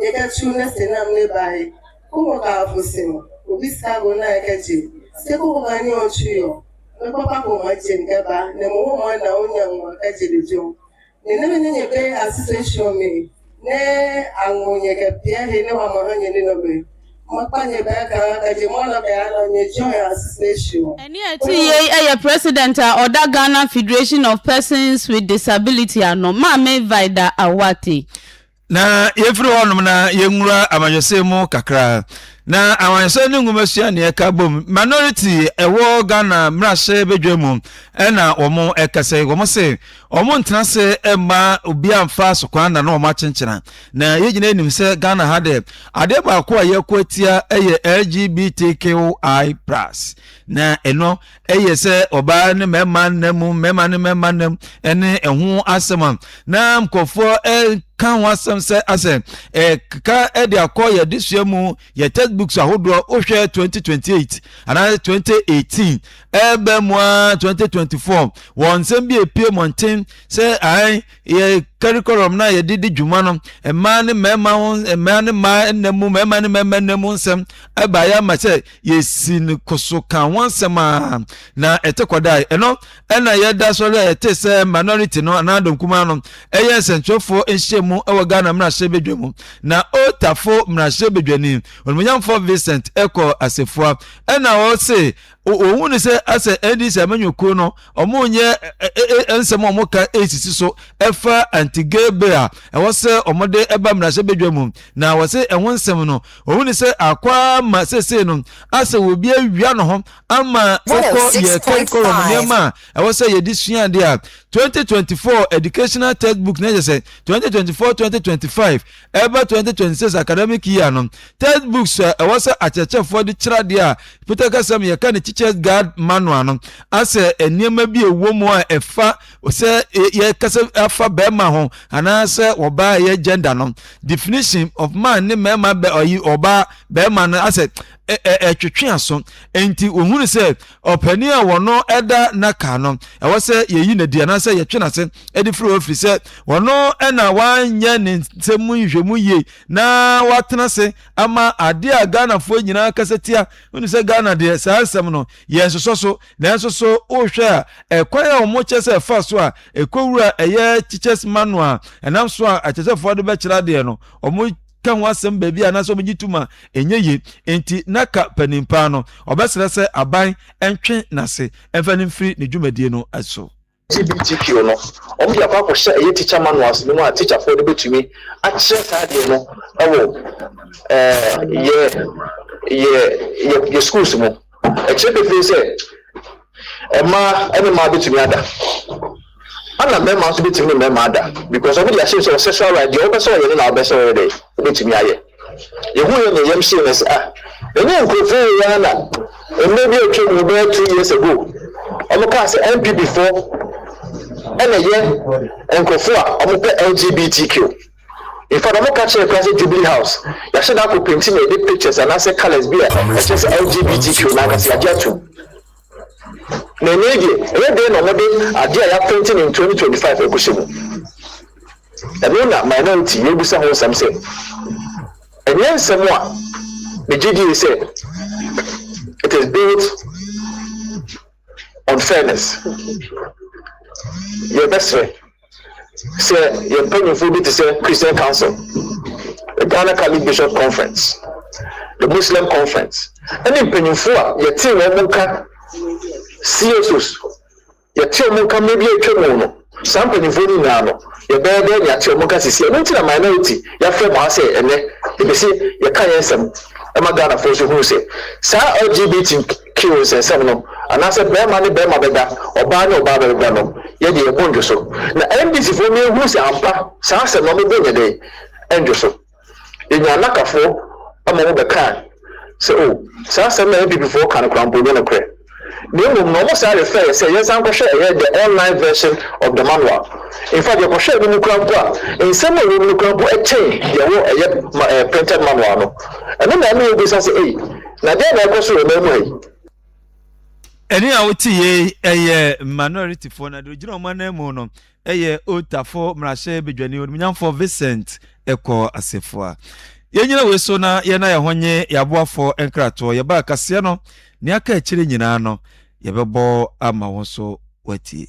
Yɛkɛkyew na sɛ nam ne bae, koko ka afo se no, obi sika go na ɛkɛkye, se koko ka ne ɔtwe yɔ, me papa ko ma kyem kɛ ba, na mo ho ma na onya ngo akɛkye de dwom. Ne ne me ne nye be ase se hyɔ me, ne ango nye kɛ pia he ne wa ma ha nye ne nɔ be, ma kpa nye bɛ ka ka je mɔ nɔ kɛ a nɔ nye jɔ he ase se hyɔ. Nea ɛte yei yɛ President a ɔda Ghana Federation of Persons with Disability ano, Maame Vida Awatey. Na yɛmfiri hɔnom na yɛnwura amanyɔsɛm mu kakra na amanyɔsɛm ne nwomasua ne ɛka bom minority ɛwɔ ghana mmarahyɛ badwa mu ɛna wɔn ɛkɛsɛ wɔn se wɔn ntena se ɛma obi amfa so kwan na na wɔn akyenkyena na yɛn nyinaa nim sɛ ghana ha dɛ adeɛ baako a yɛkɔ atia ɛyɛ lgbtqi plus na ɛno ɛyɛ sɛ ɔbaa ne mmarima nna mu mmarima ne mmarima nna mu ɛne ɛho asɛm a na nkurɔfoɔ ɛka ho asɛm sɛ asɛ ɛkeka ɛde akɔ yɛ adesua mu yɛ textbooks ahodoɔ wohwɛ 2028 anaa 2018 ɛbɛ mu a 2024 wɔn nsɛm bi epie mmɔnten sɛ ae yɛ curriculum no a yɛde di dwuma no mmaa ne mmarima ho mmaa ne mmaa nna mu mmarima ne mmarima nna mu nsɛm ɛbaeɛ ama sɛ yɛsi ne koso ka ho nsɛm a na ɛte kɔdae ɛno ɛna yɛda sɔre a yɛte sɛ minority no anaa dɔnkumaa no ɛyɛ nsɛnkyerɛfoɔ nhyiamu ɛwɔ ghana mmarahyɛ badwa mu na otafo mmarahyɛ badwani onimonyamfoɔ vincent ɛkɔ asefoa ɛna ɔse wɔhu no sɛ asɛ ɛndi sɛ amanyɔkuo no wɔnyɛ nsɛm a wɔka ɛsisi so ɛfa anti-gay bill a ɛwɔ sɛ wɔde ɛba mmarahyɛbadwa mu na wɔsɛ ɛho nsɛm no wɔhu no sɛ akwaa ma sesei no asɛ obi awia no ho ama wokɔ yɛ curriculum nneɛma a ɛwɔ sɛ yɛde sua adeɛ a 2024 educational textbook na ɛkyɛ sɛ 2024 2025 Ɛreba twenty twenty six academic year no, text books a ɛwɔ sɛ akyerɛkyerɛfoɔ de kyerɛ adeɛ a Peter kasa mu yɛka ne Teacher's Guide Manual no asɛ nneɛma bi a ɛwɔ mu a ɛfa sɛ yɛkasa afa bɛrima ho anaasɛ ɔbaa ɛyɛ gender no definition of man ne mmarima bɛ ɔyi ɔbaa bɛrima no asɛ ɛtwetwe aso nti wɔhunu sɛ Ɔpanin a wɔno da nnaka no, ɛwɔ sɛ yɛyi no adi anaasɛ yɛtwe no ase de firi hɔ ɛfiri sɛ wɔno na wanyɛ ne nsɛm mu nhwehwɛmu yie na watena ase ama adeɛ a Ghanafoɔ nyinaa kasa tia. Wonu sɛ Ghana deɛ saa nsɛm no yɛ nsosɔ so nanso so wohwɛ a ɛkwan a wɔn kyɛ sɛ ɛfa so a ɛkɔwura ɛyɛ teachers manual ɛnam so a akyerɛkyerɛfoɔ de bɛkyerɛ adeɛ no wɔn ka ho asɛm baabi a anaasɛ wɔgye tom a ɛnyɛ yie. Enti na ka panin paa no, ɔbɛsrɛ sɛ aban ntwe n'ase mfa no mfiri ne dwumadie no so. LGBTQ no, wɔde akɔ akɔhyɛ ɛyɛ teacher manuals no mu a teacherfoɔ de bɛtumi akyerɛ saa adeɛ no wɔ ɛɛ yɛ yɛ yɛ yɛ schools mu. Ɛkyerɛ pefee sɛ mmaa ne mmaa betumi ada, ɛna mmarima nso betumi ne mmarima ada because wɔn de ahyɛ mu sɛ ɔsɛ sɛ ɔyɛ deɛ ɔbɛ sɛ ɔyɛ no na ɔbɛ sɛ ɔyɛ dɛ obetumi ayɛ. Yehu yɛ nea yɛm hyɛ na sɛ ah ɛnyɛ nkurɔfoɔ wɔ yɛn na mmerɛ bi atwa mu bɛyɛ two years ago wɔn kaa sɛ NPP foɔ ɛna yɛ nkurɔfoɔ a wɔn pɛ LGBTQ. Infact ɔmo ka kyerɛ koraa sɛ Jubilee House yɛahyɛ da akɔ penti na yɛde pictures anaasɛ colours bi a ɛkyerɛ sɛ LGBTQ no ankasa yɛagye atum. Na ɛnɛ yi deɛ ɛyɛ dɛn na ɔmo de adeɛ a yɛapenti no in 2025 ɛkɔhyɛ mu? Ɛno na minority yɛrebisa ho nsɛm sɛ ɛnyɛ nsɛm a megye die sɛ it is built on fairness. Yɛbɛsrɛ. Sɛ yɛn mpanyimfo bi te sɛ Christian Council, the Ghana Catholic Bishops Conference, the Muslim Conference, ne mpanyimfo a yɛtee wɔn nka CSOs, yɛtee wɔn nka mmere bi a atwa mu no, saa mpanyimfo no nyinaa no, yɛbɛyɛ dɛ nea yɛate wɔn nka sisi. Ɛno nti na minority yɛafrɛ mo ha sɛ ɛnɛ yɛpɛ sɛ yɛka yɛn nsɛm ma Ghanafoɔ nso hunu sɛ saa LGBT Kew nsensɛm no, anaasɛ bɛɛma ne bɛɛma bɛda, ɔbaa ne ɔbaa bɛda no, yɛ deɛ yɛbo ndwo so. Na NDC foɔ no ɛhunu sɛ ampa saa asɛm no ɔmo bo nyɛ dɛn ndwo so. Yɛnyaa Anaka foɔ ma ɔmo bɛkaa sɛ oh saa asɛm no a NPP foɔ ka no koraa mpo nyɛ nokorɛ. Na mmom no ɔmo saa refer yɛ sɛ yɛnsan nkɔhwɛ ɛyɛ the online version of the manual. In fact yɛkɔhwɛɛ no mu koraa mpo a, nsɛm a ɛwɔ mu no koraa mpo ɛkyɛn deɛ ɛwɔ ɛyɛ printed manual no. Ɛno na ɛma yɛbisa sɛ ei, Na deɛ na ɛkɔ so wɔ ɔman mu ha yi. Ɛne a wote yei ɛyɛ Manorityfoɔ na deɛ ɔgyina wɔn ananmu no ɛyɛ Otafo Mmarahyɛ Badwani Onimnyamfoɔ Vincent Ɛkɔɔ Assefuah. Yɛnyina wei so na yɛn a yɛn ho nye yɛn aboafoɔ nkratoɔ yɛbaa kaseɛ no nea aka akyire nyinaa no yɛbɛbɔ ama wo nso woatie.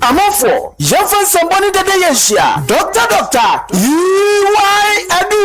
Amanfoɔ, yɛmfa nsɛmbɔ ne dɛdɛyɛ nhyia Doctor Doctor EY Adu!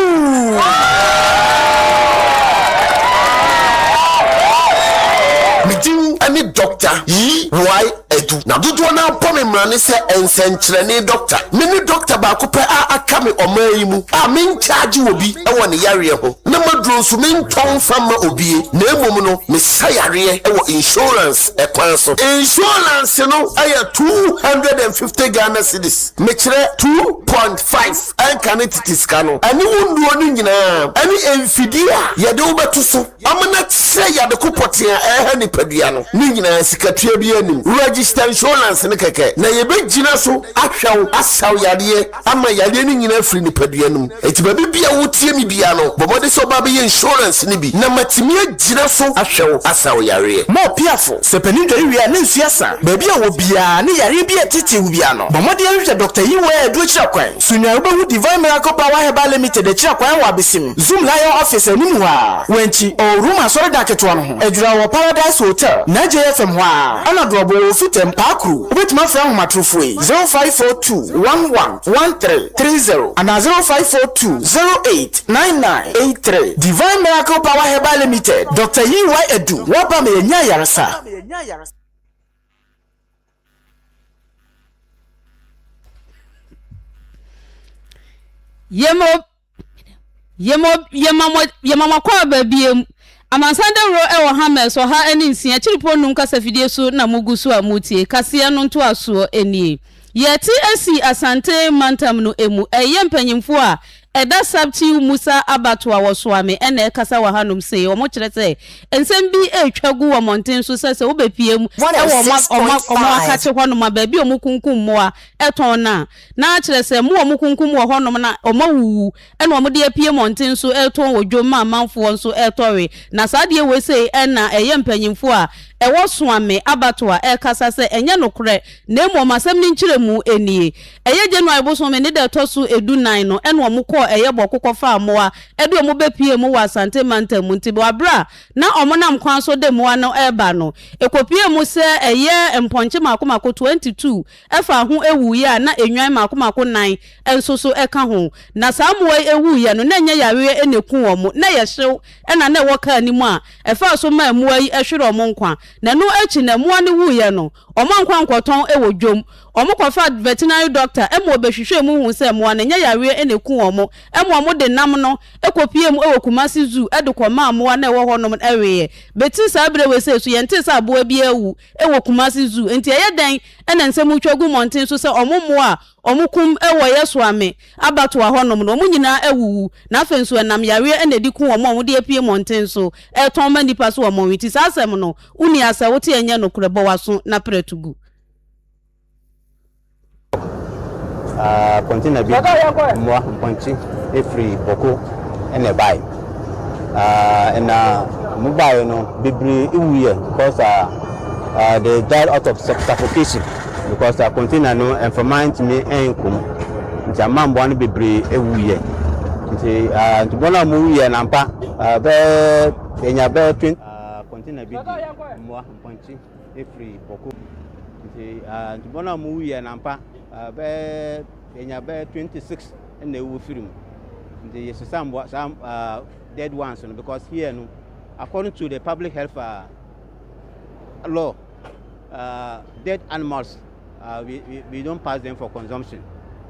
Me din ne Doctor EY Adu, na dodoɔ no ara bɔ me mmara ne sɛ nsɛnkyerɛnne dɔkta. Me ne dɔkta baako pɛ a aka me ɔman yi mu a menkyaagye obi wɔ ne yareɛ ho, na m'aduro nso mentɔn mfa mma obie, na mmom no mesa yareɛ wɔ insurance. kwan so. Insurance no yɛ two hundred and fifty Ghana cedis, mekyerɛ two point five ɛnka ne tete sika no, ɛne wo nnuro no nyinaa, ɛne mfidie a yɛde wo bɛto so ama no akyerɛ yade ko pɔtee a ɛreha nipadua no, ne nyinaa sikatua biara nnim. Register insurance no kɛkɛ na yɛbɛgyina so ahwɛ wo asaw yadeɛ. ama yareɛ no nyina afiri nipadua no mu. Enti baabi biaa wotie me biaa no, bɔ mmɔden sɛ wobaa bɛyɛ insurance no bi na matumi agyina so ahwɛ wo, asa wo yareɛ. Ma ɔpiafo, Sɛ panin dware wie a na nsuo asa. Baabi a ɔwɔ biaa ne yareɛ bi a ɛtetee wo biaa no, bɔ mmɔden hwehwɛ Dɔkta Yi Wɔ a ɛdu akyiri akwan. So nyan wobɛhu Divine Miracle Power Herbal Limited akyiri akwan wɔ Abesim, Zoom Lion Office anim hɔ ara, wɔ Ankyi, Old Rome Asɔredan ketewa no ho. Edzra wɔ Paradise Hotel, Naajeeɛ fam hɔ ara. Ɛna Dorɔbo wɔ Ofite, Mpaakuru. Wobɛtumi afrɛ ahomatorofo yi, 0542111330 anaa 0542089983. Divine Miracle Power Herbal Limited, Dɔkta UY Adu, Woaba ma yɛanya ayaresa. Yɛma Yɛma yɛma mo yɛma mo akɔ aba biem. Amansan dawuro wɔ hammers ɔha ne nsia kyiripo nnum kasafidie so na mogu so a moretie kaseɛ no ntoasoɔ nie. Yɛte asi Asante mantam no mu ɛyɛ mpanyimfoɔ a ɛda Saptiu Musa abatoa wɔ Soame na ɛkasa wɔ hanom sei. Wɔkyerɛ sɛ nsɛm bi retwa gu wɔ mmɔnten so sɛ sɛ wobɛpiem wɔ wɔn wɔn wɔn wɔn akakye hɔnom a baabi a wɔkunkum mmoa tɔn no a Na kyerɛ sɛ mmoa a wɔkunkum wɔ hɔnom na wɔawuwu na wɔde apue mmɔnten so retɔn wɔ dwom ma amanfoɔ nso retɔ we. Na saa adeɛ wei sei na ɛyɛ mpanimfoɔ a ɛwɔ Soame abatoɔ a ɛkasa sɛ ɛnyɛ nokorɛ na mmom asɛm no nkyerɛmu nie. Ɛyɛ January bosome ne da ɛtɔ so du nnan no na wɔkɔɔ ɛyɛ bɔko kɔfaa mmoa de wɔn bɛpuee mu wɔ Asante mantam mu nti wɔ berɛ a na wɔnam kwan so de mmoa no reba no ɛkɔpuee mu sɛ ɛyɛ mpɔnkye mako mako twenty two ɛfa ho wuiɛ a na nnwan mmaako mmaako nnan nso so ka ho. Na saa mmoa yi wuiɛ no, na ɛnyɛ yareɛ na ɛku wɔn, na ɛyɛ hyew na na ɛwɔ kaa no mu a ɛfaa so maa mmoa yi hweree wɔn nkwa. Na ɛno akyi no, mmoa no wuiɛ no, wɔankɔ ankɔtɔn wɔ dwam. Wɔkɔfaa veterinary doctor ma ɔbɛhwehwɛɛ mu huu sɛ mmoa no, ɛnyɛ yareɛ na ɛku wɔn mmom wɔde nam no kɔpuee mu wɔ Kumasi Zoo de kɔmaa mmoa no a ɛwɔ hɔnom no weeɛ. Bɛti saa berɛ wei sei nso, yɛntee sɛ aboa biara awu. wɔ Kumasi Zoo, enti ɛyɛ dɛn na nsɛm retwa gu mmɔnten so sɛ wɔn mmoa a wɔkum wɔ Yesuame abatoa hɔnom no, wɔn nyinaa awuwu, na afei nso ɛnam yareɛ na ɛdi ku wɔn a wɔde apue mmɔnten so retɔn ma nnipa so wɔ Monwi ti? Saa asɛm no, wonni asɛ wote ɛnyɛ nokorɛ, bɔ w'aso na pere to gu. Aa container bi mmoa mpɔnkye efiri bɔko ɛna ɛbae aa ɛna ɔmo baeɛ no bebree ewuiɛ because aa uh, they died out of suffocation because uh, container no mframa ntumi ɛnkom nti ama mmoa no bebree ewuiɛ nti uh, nti bɔn a ɔmo wuiɛ nampa uh, bɛɛ enya bɛɛ twenty. Aa container bi di mmoa mpɔnkye. firi bɔkɔ mu. Nti uh, nti bɔn a ɔmo wu yɛ nampa uh, bɛyɛ yɛnya bɛyɛ twenty six ɛna ewu firi mu. Nti yɛ sisa mboa saa uh, dead ones no because here no according to the public health uh, law uh, dead animals uh, we, we, we don't pass them for consumption.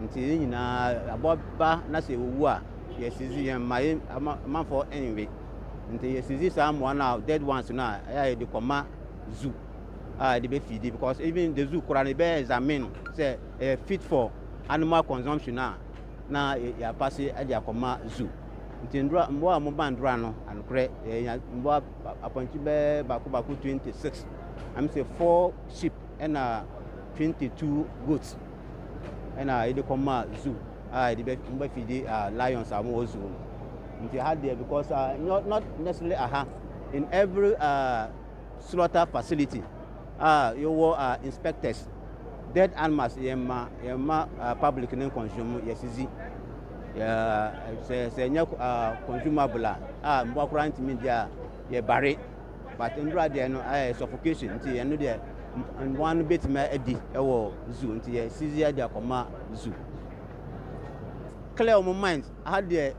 Nti yɛ nyinaa aboa ba na sɛ ewu a yɛ sisi yɛn ma yɛ amanfoɔ ɛnwe. Nti yɛ sisi saa mmoa no a dead ones no a ɛyɛ a yɛde kɔma zoo a yɛde bɛ feedi because even the zoo koraa no yɛbɛ examine sɛ ɛyɛ fit for animal consumption a na yɛapa se de akɔma zoo nti ndora mmoa a wɔba ndora no anokorɛ yɛnya mmoa apɔnkye bɛɛ baako baako 26 ɛm sɛ 4 sheep ɛna 22 goats ɛna yɛde kɔma zoo a yɛde bɛ wɔn bɛ fidi uh, lions a wɔwɔ zoo no nti ha deɛ because uh, not, not necessarily aha in every uh, slaughter facility a yɛwɔ uh, inspectors dead animals yɛn ma yɛn ma uh, public ne consume yɛsisi sɛ sɛ nyɛ uh, consumable a mmoa koraa ntumi di a yɛbare. but nwura deɛ no ɛyɛ suffocation nti ɛno deɛ mmoa no bɛtumi adi wɔ zoo nti yɛ sisi adi akɔma zoo clear wɔn mind aha deɛ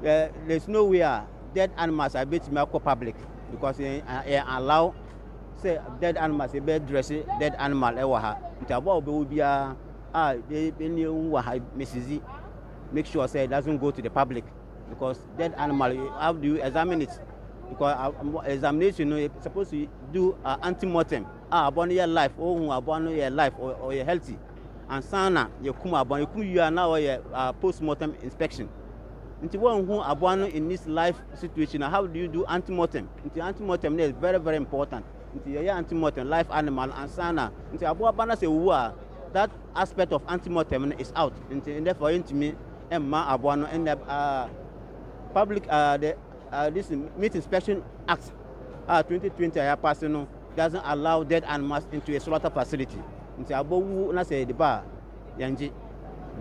yɛ there is no way a dead animals a bɛtumi akɔ public because yɛn yɛn allow sɛ dead animals yɛbɛ dress dead animal ɛwɔ ha nti aboa a wɔbɛwɔ biara a ɛni ɛwu wɔ ha mesizi make sure sɛ it doesn't go to the public. because dead animal you have to examine it because uh, um, examination no you supposed to do uh, antemortem a ah, aboa no yɛ life ohun oh, aboa no yɛ life ɔyɛ oh, oh, healthy ansa na yɛkum aboa no yɛkum wie a na ɔyɛ uh, post mortem inspection nti wɔnhu aboa no in this life situation how do you do antemortem nti antemortem no is very very important nti yɛyɛ antemortem life animal ansa na nti aboa ba no sɛ owu a that aspect of antemortem no is out nti therefore yɛntumi mma aboa no nnɛ a Public uh, the, uh, this Meat Inspection Act a uh, 2020 a yɛapase no doesn't allow dead animals into a slaughter facility. Nti abowu na sɛ yɛde ba a yɛngye.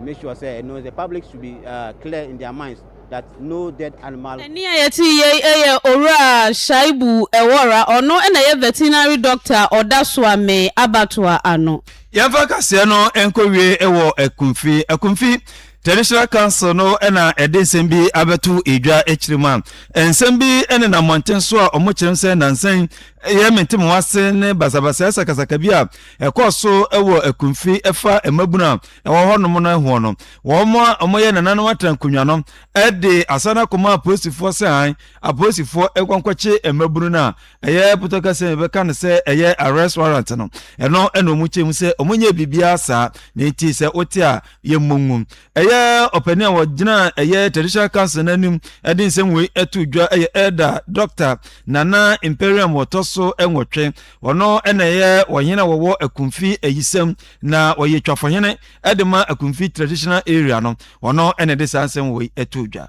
Make sure sɛ you know, the public should be uh, clear in their minds that no dead animal. Ɛne a yɛte yei yɛ Owura Shaibu Ewora, ɔno na ɛyɛ veterinary doctor ɔda Suame abatoa ano. yɛmfa kaseɛ no nkɔwie wɔ akumfi akumfi traditional council no na ɛde nsɛm bi abɛto edwa akyiri mu a nsɛm bi ne na mmɔnten so a wɔn kyerɛm sɛ nansan yɛ mente mo ase ne basabasa sakasaka bi a ɛkɔɔ so wɔ akumfi ɛfa mmabunu a ɛwɔ hɔnom no ho no wɔn a wɔyɛ nananom atena nkonnwa no de asana kɔma apolisifoɔ sɛ han apolisifoɔ nkɔnkɔkye mmabunu no a Ɛyɛ pɔtɔ kɛse a yɛbɛka no sɛ ɛyɛ arrest warrant no. Ɛno na wɔn kyɛ mu sɛ wɔn nyɛ biribiara saa. Ne nti sɛ wote a yɛ mmɔ ngu. Ɛyɛ ɔpanin a wɔgyina ɛyɛ traditional council n'anim ɛde nsɛm wei ɛto dwa ɛyɛ elder Dr. Nana Imperium wɔtɔ so ɛnwɔtwe. Ɔno ɛna ɛyɛ wɔhene a wɔwɔ Akumfi ayisɛm na wɔyɛ twafohene ɛde ma Akumfi traditional area no. Ɔno ɛna ɛde saa nsɛm wei ɛto dwa.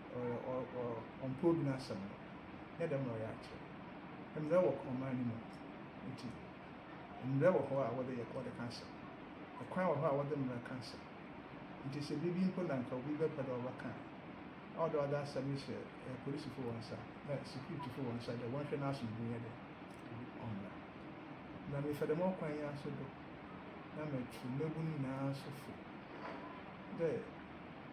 ɔyɛ ɔ ɔ ɔmpɛ obi n'asɛm no nyɛ dɛm na ɔyɛ akyerɛ mbrɛ wɔ ɔman no mu ntsi mbrɛ wɔ hɔ a wɔdze yɛ wɔdze ka asɛm kwan wɔ hɔ a wɔdze mbra ka asɛm ntsi sɛ biribi mpo na nka obi bɛpɛ dɛ ɔbɛka a ɔwɔ dɛ ɔdze asɛm no hyɛ eh, polisifo wɔn nsa na securityfo wɔn nsa dɛ wɔnhwɛ n'asomdwe nyɛ dɛ ɔmbra na mefa dɛm ɔkwan yi aso do na mɛtu mmabun nyinaa nso fo dɛ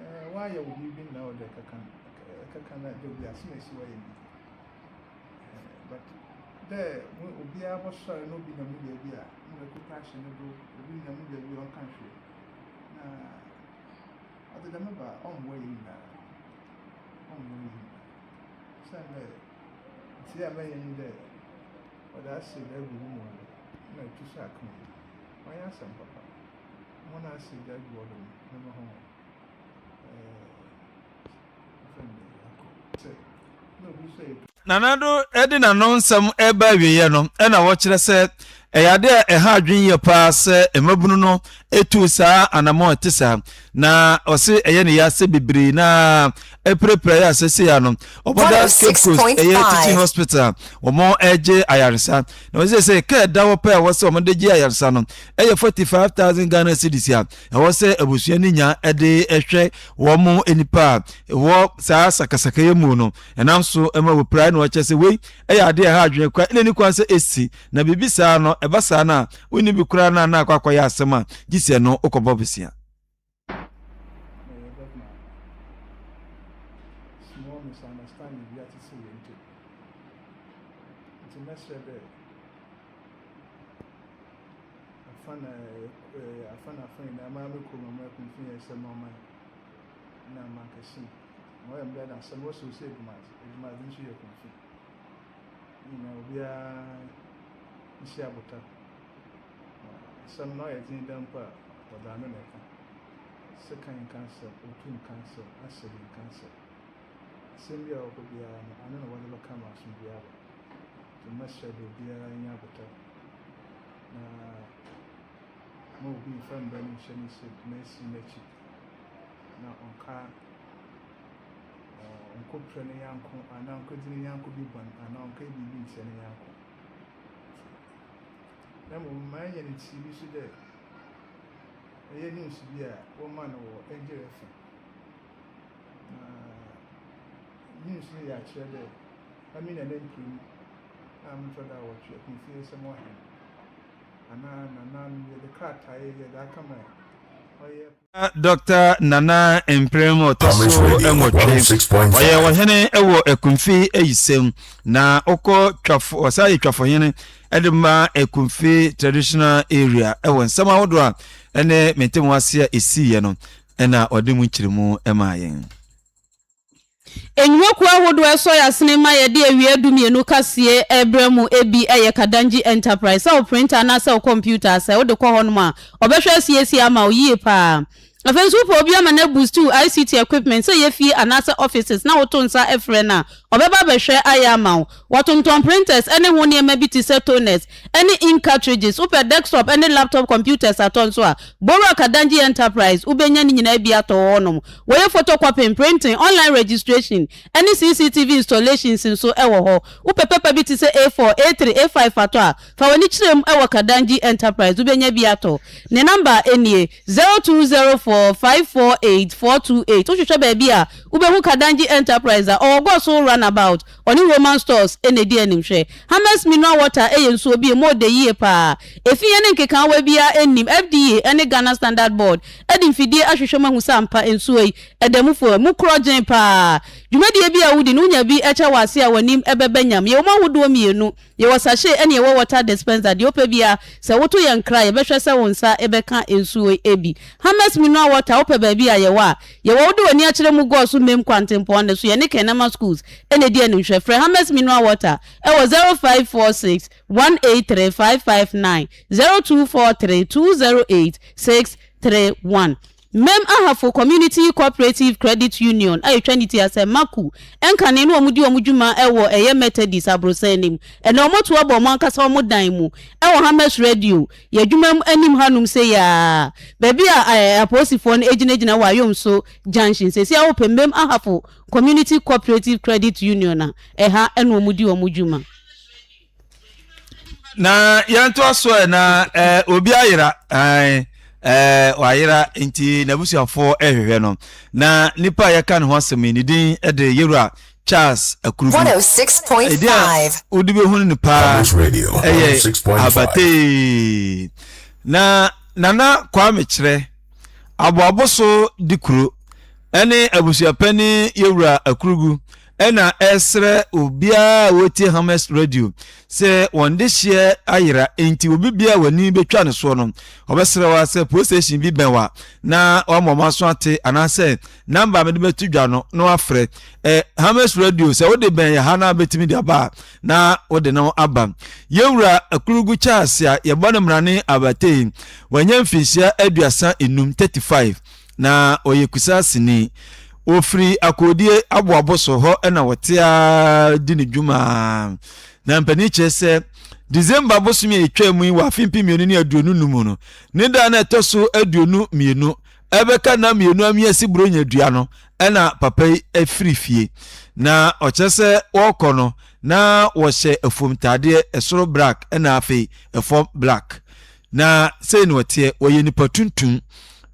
Ɛɛ w'ayɛ wo biribi nnɛ a wode ɛkɛka no ɛkɛka no da bi asem esi w'ayɛ no bi but dɛ obiara bɔsɔre na obi nya mu baabi a na wakuta ahyɛ no do obi nya mu baabi a ɔnka nhwɛ na ɔde dɛm ba ɔmmoa yɛ nyinaa ɔmmoa yɛ nyinaa sɛn dɛ nti a mɛyɛ ni dɛ ɔde asɛ baabi mu na ɛtu so aka mu ɔyɛ asɛm papa. Hɔn a ɔhyɛ gya gu hɔ no, hɛn ho ɔyɛ fɛw. Nana Addo de n'ano nsɛm reba awieeɛ no na ɔkyerɛ sɛ ɛyɛ adeɛ a ɛha adwene yie paa sɛ mmabunu no tuu saa anammɔn a ɛte saa na ɔse ɛyɛ ne ya sɛ bebree no ara apirapira yɛ a seesei ano ɔbɔda Cape Coast ɛyɛ teaching hospital a wɔregye ayaresa Na wɔn sɛ sɛ kaa da hɔ pɛ a ɛwɔ sɛ wɔn de gye ayaresa no yɛ forty five thousand Ghana cedis a ɛwɔ sɛ abusua no nya de hwɛ wɔn nipa a wɔ saa sakasaka yɛ mu no ɛnam so ma wɔpirae na wɔkyɛ sɛ wei ɛyɛ adeɛ a ɛha adwene kora ɛna ni kwan sɛ ɛsi na biribi saa no ɛba saa no a wonni bi koraa na na akɔ akɔyɛ asɛm a gye sɛ no wokɔbɔ bosea. na yɛbɛma small misunderstanding bi atsetse hɛn ntamu. Ntsi mɛserɛ dɛ afa na afa na afa nyina mara mo kurom ama hom mfe nyinara sɛ mo ɔman na mankɛse mu. Ma ɔyɛ me dɛ na sɛ mowɔ sɛ osi Edwumadze, Edwumadze no so yɛ Kumfi. Hɛn nyina obiara nhyia abotar. Na asɛm no ayɛ dzen dɛ mpo a, wɔdze ano na ɛkã. Sekan nkã asɛm, otu nkã asɛm, asɛm nkã asɛm. Asɛm bi a ɔwɔ hɔ biara no, ano na wɔdze bɛkã ma asomdwee aba. Ntsi mɛserɛ dɛ obiara nya abotar na mma obi mmfa mbra no nnhyɛ ne nsamu na esi n'ekyir na ɔnnkã ɔnnkopira ne nyɛnko anaa ɔnnkɛdzi ne nyɛnko bi bɔn anaa ɔnnkɛyɛ biribi nntsia ne nyɛnko. na mbom ma yenya no tsir bi so dɛ ɔyɛ news bi a wɔmaa no wɔ Angel FM, na news no yɛ akyerɛ dɛ emi na m'emper mu a motɔ do awɔtwe, Akonfieisɛm Ɔhen, anaa Nananom, yɛdze krataa yi yɛdze akɛma ɔyɛ. Na Dɔkta Nana mprem a ɔtɔ so nwɔtwe, ɔyɛ ɔhene wɔ Akumfi ayisɛm, na ɔkɔ twafo, ɔsan yɛ twafohene de ma Akumfi traditional area wɔ nsɛm ahodoɔ a ɛne mete mu ase a ɛsiiɛ no ɛna ɔde mu nkyerɛmu maa yɛn. Nnwumakuo ahodoɔ ɛsɔ y'asene ma yɛde awia dumienu kaseɛ ɛrebrɛ mo ɛbi ɛyɛ Kadangye Enterprise sɛ wo printer anaasɛ wo computer asɛe wode kɔ hɔnom a wɔbɛhwɛ asiesie ama wo yie paa afei nso wopɛ obi ama no abusti wo ICT equipment sɛ ɛyɛ fie anaasɛ offices na woto nsa ɛfrɛ no a ɔbɛba abɛhwɛ ayɛ ama wo Wɔtontɔn printers ne ho nneɛma bi te sɛ toners ne ink cartridges. Wopɛ desktop ne laptop computers atɔ nso a, Bowura Kadangye Enterprise, wobɛnya ne nyinaa bi atɔ wɔ hɔnom. Wɔyɛ photocopying, printing, online registration, ne CCTV installations nso wɔ hɔ. Wopɛ pɛpa bi te sɛ A4, A3, A5 atɔ a, fa w'ani kyerɛ mu wɔ Kadangye Enterprise, wobɛnya bi atɔ. Ne namba nie, zero two zero four five four eight four two eight. Wohwehwɛ baabi a, wobɛhu Kadangye Enterprise a ɔwɔ Goso Runabout, Ɔne Roman stores na edi anim. Hwɛ, Hammer's Mineral Water yɛ nsuo bi a ɛmu ɔdɛ yie pa ara. Efi yɛn ne nkekaawa biara nnim. FDA ne Ghana Standard Board de mfidie ahwehwɛ mu ahu sɛ ampa nsuo yi, ɛda mu fua. Ɛmu korɔ gyen pa ara. Dwumadie biara a wodi no, wonya bi kyɛ wɔ ase a w'anim bɛba nyam. Yɛwɔ mu ahodoɔ mmienu. Yɛwɔ sachet ɛne yɛwɔ water dispenser, deɛ wopɛ biara. Sɛ woto yɛn kra a, yɛbɛhwɛ sɛ wo nsa bɛka nsuo yi bi. Hammers Mineral Water, wopɛ baabi a, yɛwɔ a. Yɛwɔ Wode W'ani Akyerɛ Mu Gɔɔ So Mem Kwantempɔn no so, yɛne Kernama Schools na ɛdi animhwɛ. Frɛ Hammers Mineral Water wɔ 0546 183 559, 0243 208 631. Mem Ahafo Community Cooperative Credit Union a etwa ne ti asɛ Maku nkane na wɔdi wɔn dwuma wɔ ɛyɛ Methodist aborosan no mu. Ɛnnɛ wɔatu abɔ wɔn ankasa wɔn dan mu wɔ Hammers Radio, yɛn adwuma mu anim hanom sei ara, baabi a apolisifoɔ no gyinagyina wɔ Ayomso Junction. Seesei ara wɔpɛ Mem Ahafo Community Cooperative Credit Union a ɛha na wɔdi wɔn dwuma. na yɛntoa so ɛ na ɛ obi ayera ɛn ɛɛ wayera nti n'abusuafoɔ ɛhwehwɛ no na nipa a yɛka ne ho asɛm yi ne din ɛde yɛwura charles akurubi ɛdi a 106.5 wode bɛhunu no paa Publish Radio, ɛyɛ 106.5. abatee na nana kwame kyerɛ aboabo so de kuro ɛne abusuapani yɛwura akurugu ɛna ɛsrɛ obiara a wɔtie hamas radio sɛ wɔn de hyeɛ ayera enti obi bia a w'ani bɛtwa no soɔ no ɔbɛsrɛ wa sɛ police station bi bɛn wa na wama ɔma so ate anaasɛ namba mede bɛto dwa no na wafrɛ eh, hamas radio sɛ wode bɛn yɛ ha na bɛtumi de aba a na wode no aba yɛwura akurugu charles a yɛbɔ no mmarane abatei wanya mfinhyia aduasa enum 35 Na ɔyɛ Kusasini. Wɔfiri akoodie aboabo so hɔ na wɔte ara di ne dwuma ara. Na mpanin kyerɛ sɛ December bosome a ɛtwa mu yi wɔ afe mpem mmienu ne aduonu no mu no, ne da na ɛtɔ so aduonu mmienu ɛbɛka nna mmienu ameasi buronya dua no na papa yi afiri fie. Na ɔkyerɛ sɛ wɔrekɔ no na wɔhyɛ afuom ntaadeɛ, ɛsoro black na afei ɛfam black. Na sei na ɔteɛ, ɔyɛ nipa tuntum,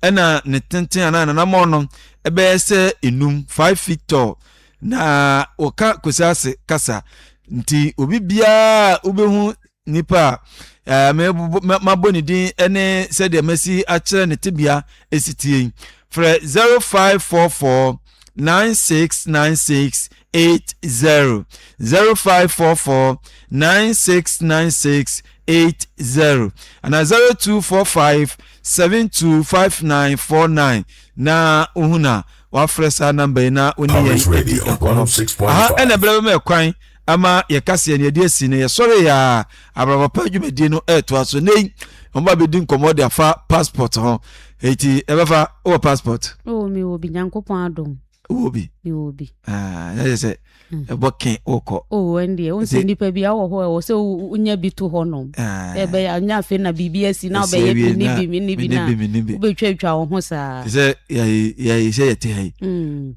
ɛna ne tenten anaa nanamɔn no ɛbɛyɛ sɛ enum, five feet tall, na ɔka Kwesi Ase kasa. Nti obi biara wobɛhu nipa a eh, mabɔ ne din ne sɛdeɛ masi akyerɛ ne tebea ɛsitie frɛ 0544 9696 eight zero zero five four four nine six nine six eight zero ana zero two four five seven two five nine four nine na ohun na wafrɛ saa namba yi na oni yɛn edi nkɔmɔ oh aha ɛna ɛbɛrɛ bɛma ɛkwan ama yɛ kaseɛ ne yɛde asi ne yɛsɔre yɛ a abrabapa dwumadie no ɛɛtoa so ne wɔn ba bɛdi nkɔmɔ de afa passport ho eti ɛbɛfa wɔ passport. ɛwɔ mi wɔ bi nyankopɔn adom. wɔ bi wɔ bi ah, na yɛ sɛ hmm. ɛbɔ ke wokɔ o oh, ɛn deɛ wosɛ nnipa bi awɔ hɔ ɛwɔ sɛ wonya bi to hɔ nom ah. ɛbɛyɛ anya afei na biribi asi na wobɛyɛ mene bi mene bi na wobɛtwatwa wo ho saa sɛ yɛyi sɛ yɛte ha yi hmm.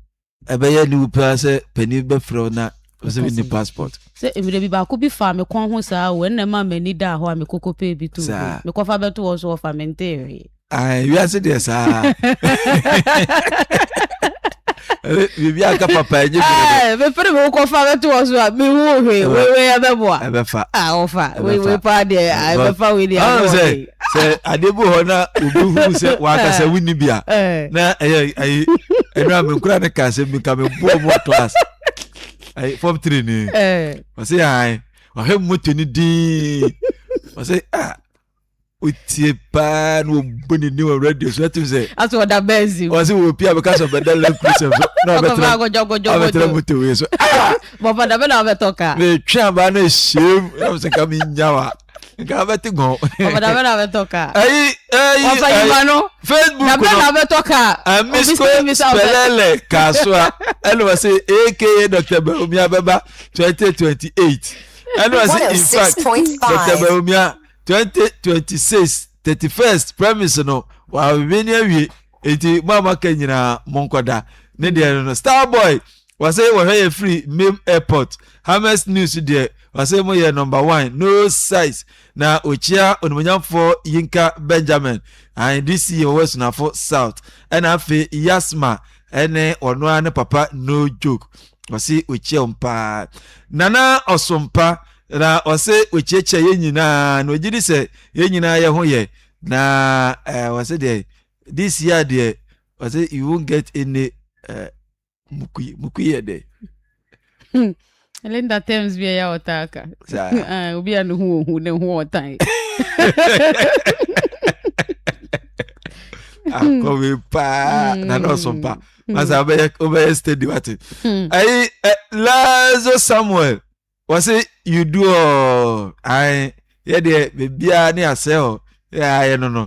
ɛbɛyɛ ne wo paa sɛ pani bɛfrɛ wo na ɔsɛ mi ni passport. sɛ mmerɛ bi baako bi fa me kɔn ho saa o ɛnna ɛma m'ani daa hɔ a mekɔkɔ pɛ bi to mekɔfa bɛto hɔ so wɔfa me nteereɛ wiase deɛ saa biribi aka papa ɛnyɛ biribi mefere me wokɔfa bɛto wɔ so a mehu hwe weiwei ɛbɛboa ɛbɛfa ɔfa weiwei paa deɛ ɛbɛfa wei deɛ sɛ sɛ adeɛ bi hɔ na obi hu sɛ wankasa wonni bi a na ɛyɛ ayi ɛno a menkura ne ka sɛ meka meboɔ mu ato ase ayi fam tiri ni ɔsɛ yɛn ɔhwɛ moto no din ɔsɛ ah wotie paa na wɔbu ne ne wɔ radio so atim sɛ aso ɔda bɛnzi mu ɔse wɔ pia bɛka sɛ ɔbɛda lɛ prisɛm so na ɔbɛtena motowe so ah! bɔfa da bɛ na ɔbɛtɔ ka metwe abaa na ɛhyɛm nam sɛ ka menya wa nka abɛte gɔn ɔbɛda bɛ na ɔbɛtɔ ka ayi ayi ɔfa yima no facebook no bɛ na ɔbɛtɔ ka amisko spɛlɛlɛ kasoa ɛna wɔ se aka dr bawumia bɛba 2028 ɛna wɔ se in fact dr bawumia 2026 thirty first premise no wɔabebe ne awie nti mo a moaka nyinaa monkɔda ne deɛ no no star boy wɔsɛ wɔhwɛ yɛ firi mem airport hammers news deɛ wɔsɛ mo yɛ number one no size na ɔkyia onimonyamfoɔ yinka benjamin and dc wɔwɔ asunafo south ɛna afei yasma ɛne ɔno ara ne papa no joke wɔse ɔkyia wɔn paa nana ɔsompa Na ɔse okyiakyia yɛn nyinaa na ɔgye di sɛ yɛn nyinaa yɛ ho yɛ na eh, ɔse deɛ this year deɛ ɔse you won't get any eh, mukui mukui yɛ dɛ hmm. Linda terms bi ɛyɛ ɔtaa ka ah, obi a ne ho ohu ne ho ɔtan akɔwe ah, paa hmm. na na ɔso mpa masa hmm. wobɛyɛ steady wate ayi eh, lazo samuel wɔsi you do all ayi yɛ deɛ beebiara ne asɛ hɔ yɛ ayɛ no no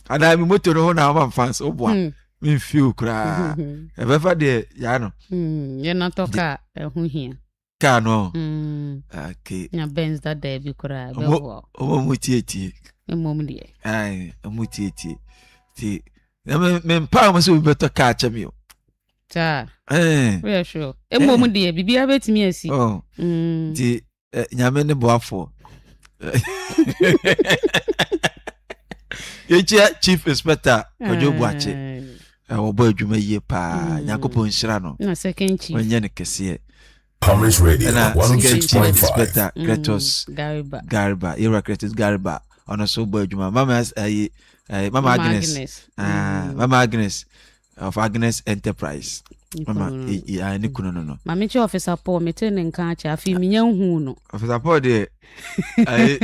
anaa mi moto no ho na ɔma nfa so boa hmm. mi nfi o koraa ɛbɛfa hmm. deɛ yaa no. Hmm, yɛ na tɔ kaa ɛho hia. kaa no okay. na benz dada bi koraa bɛ wɔ. ɔmo mu tietie. ɛmo mu deɛ. ayi ɔmo tietie ti na mi mi mpaa mo sɛ obi bɛ tɔ kaa kyɛ mi o. saa woyɛ sure mmom deɛ biribiara bɛtumi asi oh. mm. nti eh, nyame ne boafoɔ yɛkyia chief inspector ɔdwo boakye eh, wɔbɔ adwuma yie paa mm. nyankopɔn nhyira no ɔnyɛ no kɛseɛ Thomas Radio, ɛna second chief inspector Kretos mm, Gariba yɛwura Kretos Gariba ɔno nso bɔ adwuma mama ayi mama Agnes ah, mama Agnes of Agnes Enterprise mama ɛyɛ ne kunu no no maame kyɛ ɔfisa Paul mete ne nka akyɛ afei menya nhu no ɔfisa Paul deɛ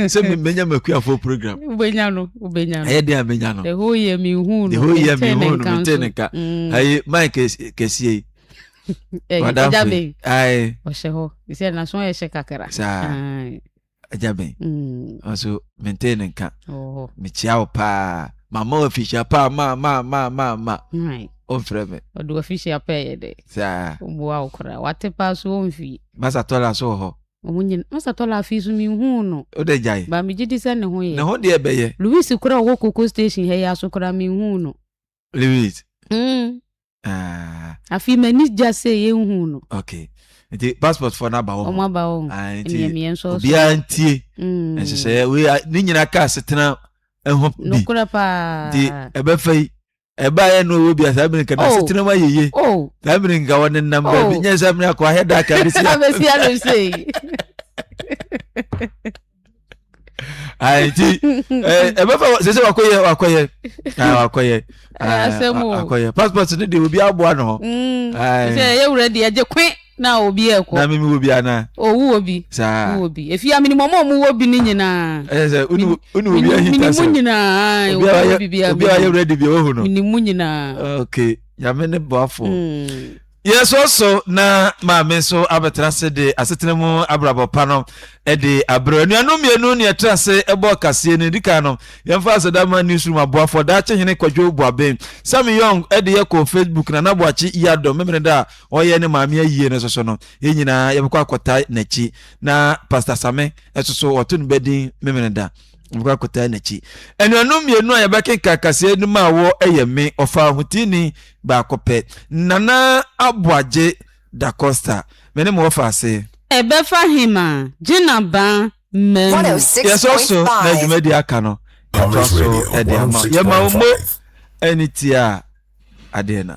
sɛ menya makuafoɔ program wobɛnya no wobɛnya no ɛyɛ deɛ a menya no the whole year menhu no the whole year menhu no mete ne nka ayi mike kɛsie yi ɔda firi ɔhyɛ hɔ sɛ naso ɛhyɛ kakra saa agya bɛn nso mentee ne nka mekyia wo paa mama wafihyia paa ma ma ma ma ma ɔmfrɛ me ɔde wafihyia paa yɛ dɛ saa ɔboa wo koraa wate paa so ɔmfie masa tɔla so wɔ hɔ wɔn nyina masa tɔla afei so menhuu no o de gyae ba megye di sɛ ne ho yɛ ne ho deɛ bɛyɛ louis koraa ɔwɔ koko station ha yi aso koraa menhuu no Lewis. Mm. Ah. Afi mani gya sɛ yɛnhu no. Okay. Nti passport fo na ba wɔ. Ɔmo aba wɔ. Ah nti. Mmiɛmmiɛ nso. Obiara ntie. Mm. Nhyehyɛeɛ wei ne nyinaa kaa setena ɛho bi. Nokora paa. Nti ɛbɛfa yi ɛba yɛ no owo bia saa bene nka na oh. setena ma yeye oh. saa bene nka wɔne nam oh. baabi nyɛ sɛ mene akɔ ahɛ da ka bɛsi abɛsi abɛsi nti ɛbɛfa sɛ sɛ wakɔyɛ wakɔyɛ wakɔyɛ akɔyɛ passport no deɛ obi aboa no hɔ sɛ ɛyɛ wura deɛ gye kwe na obi ɛkɔ na mimi wɔ bi ana owu wɔ bi saa wɔ bi efi amini mɔmɔ ɔmo wɔ bi ne nyinaa ɛyɛ sɛ unu unu obi ahi ta sɛ mini mu nyinaa obi ayɛ obi ayɛ wura de bi ɛwɔ hɔ no mini mu nyinaa okay yame ne bɔfo. Yɛn so so na maame nso abɛtena ase de asetena mu abrabɔ pa no de abrɛ. Anuanom mmienu ne ɛtra ase bɔɔ kaseɛ no. Di kan no, yɛmfa Asadama Newsroom aboafoɔ Daakye Hene Kwadwo Boaben, Sammy Young, de yɛ kɔɔ Facebook, Nana Boakye Yiadom Memeneda a ɔyɛ ne maame ayie no nso so no, yɛn nyinaa yɛbɛkɔ akɔtae n'akyi. Na Pastor Same nso so wɔto no bɛdin Memeneda. Yɛbɛkɔ akɔtae n'akyi. Anuanom mmienu a yɛbɛkenkan kaseɛ no maa wɔ yɛ me, ɔfaa ho tiini, baako pɛ. Nana Aboagye Da Costa, me ne mo wɔ faase. Ɛbɛfa hem a, gyena baa mmamu. Yɛsɔ so na dwumadi aka no atoa so de ama. Yɛma wo mo ani tia adeɛ na.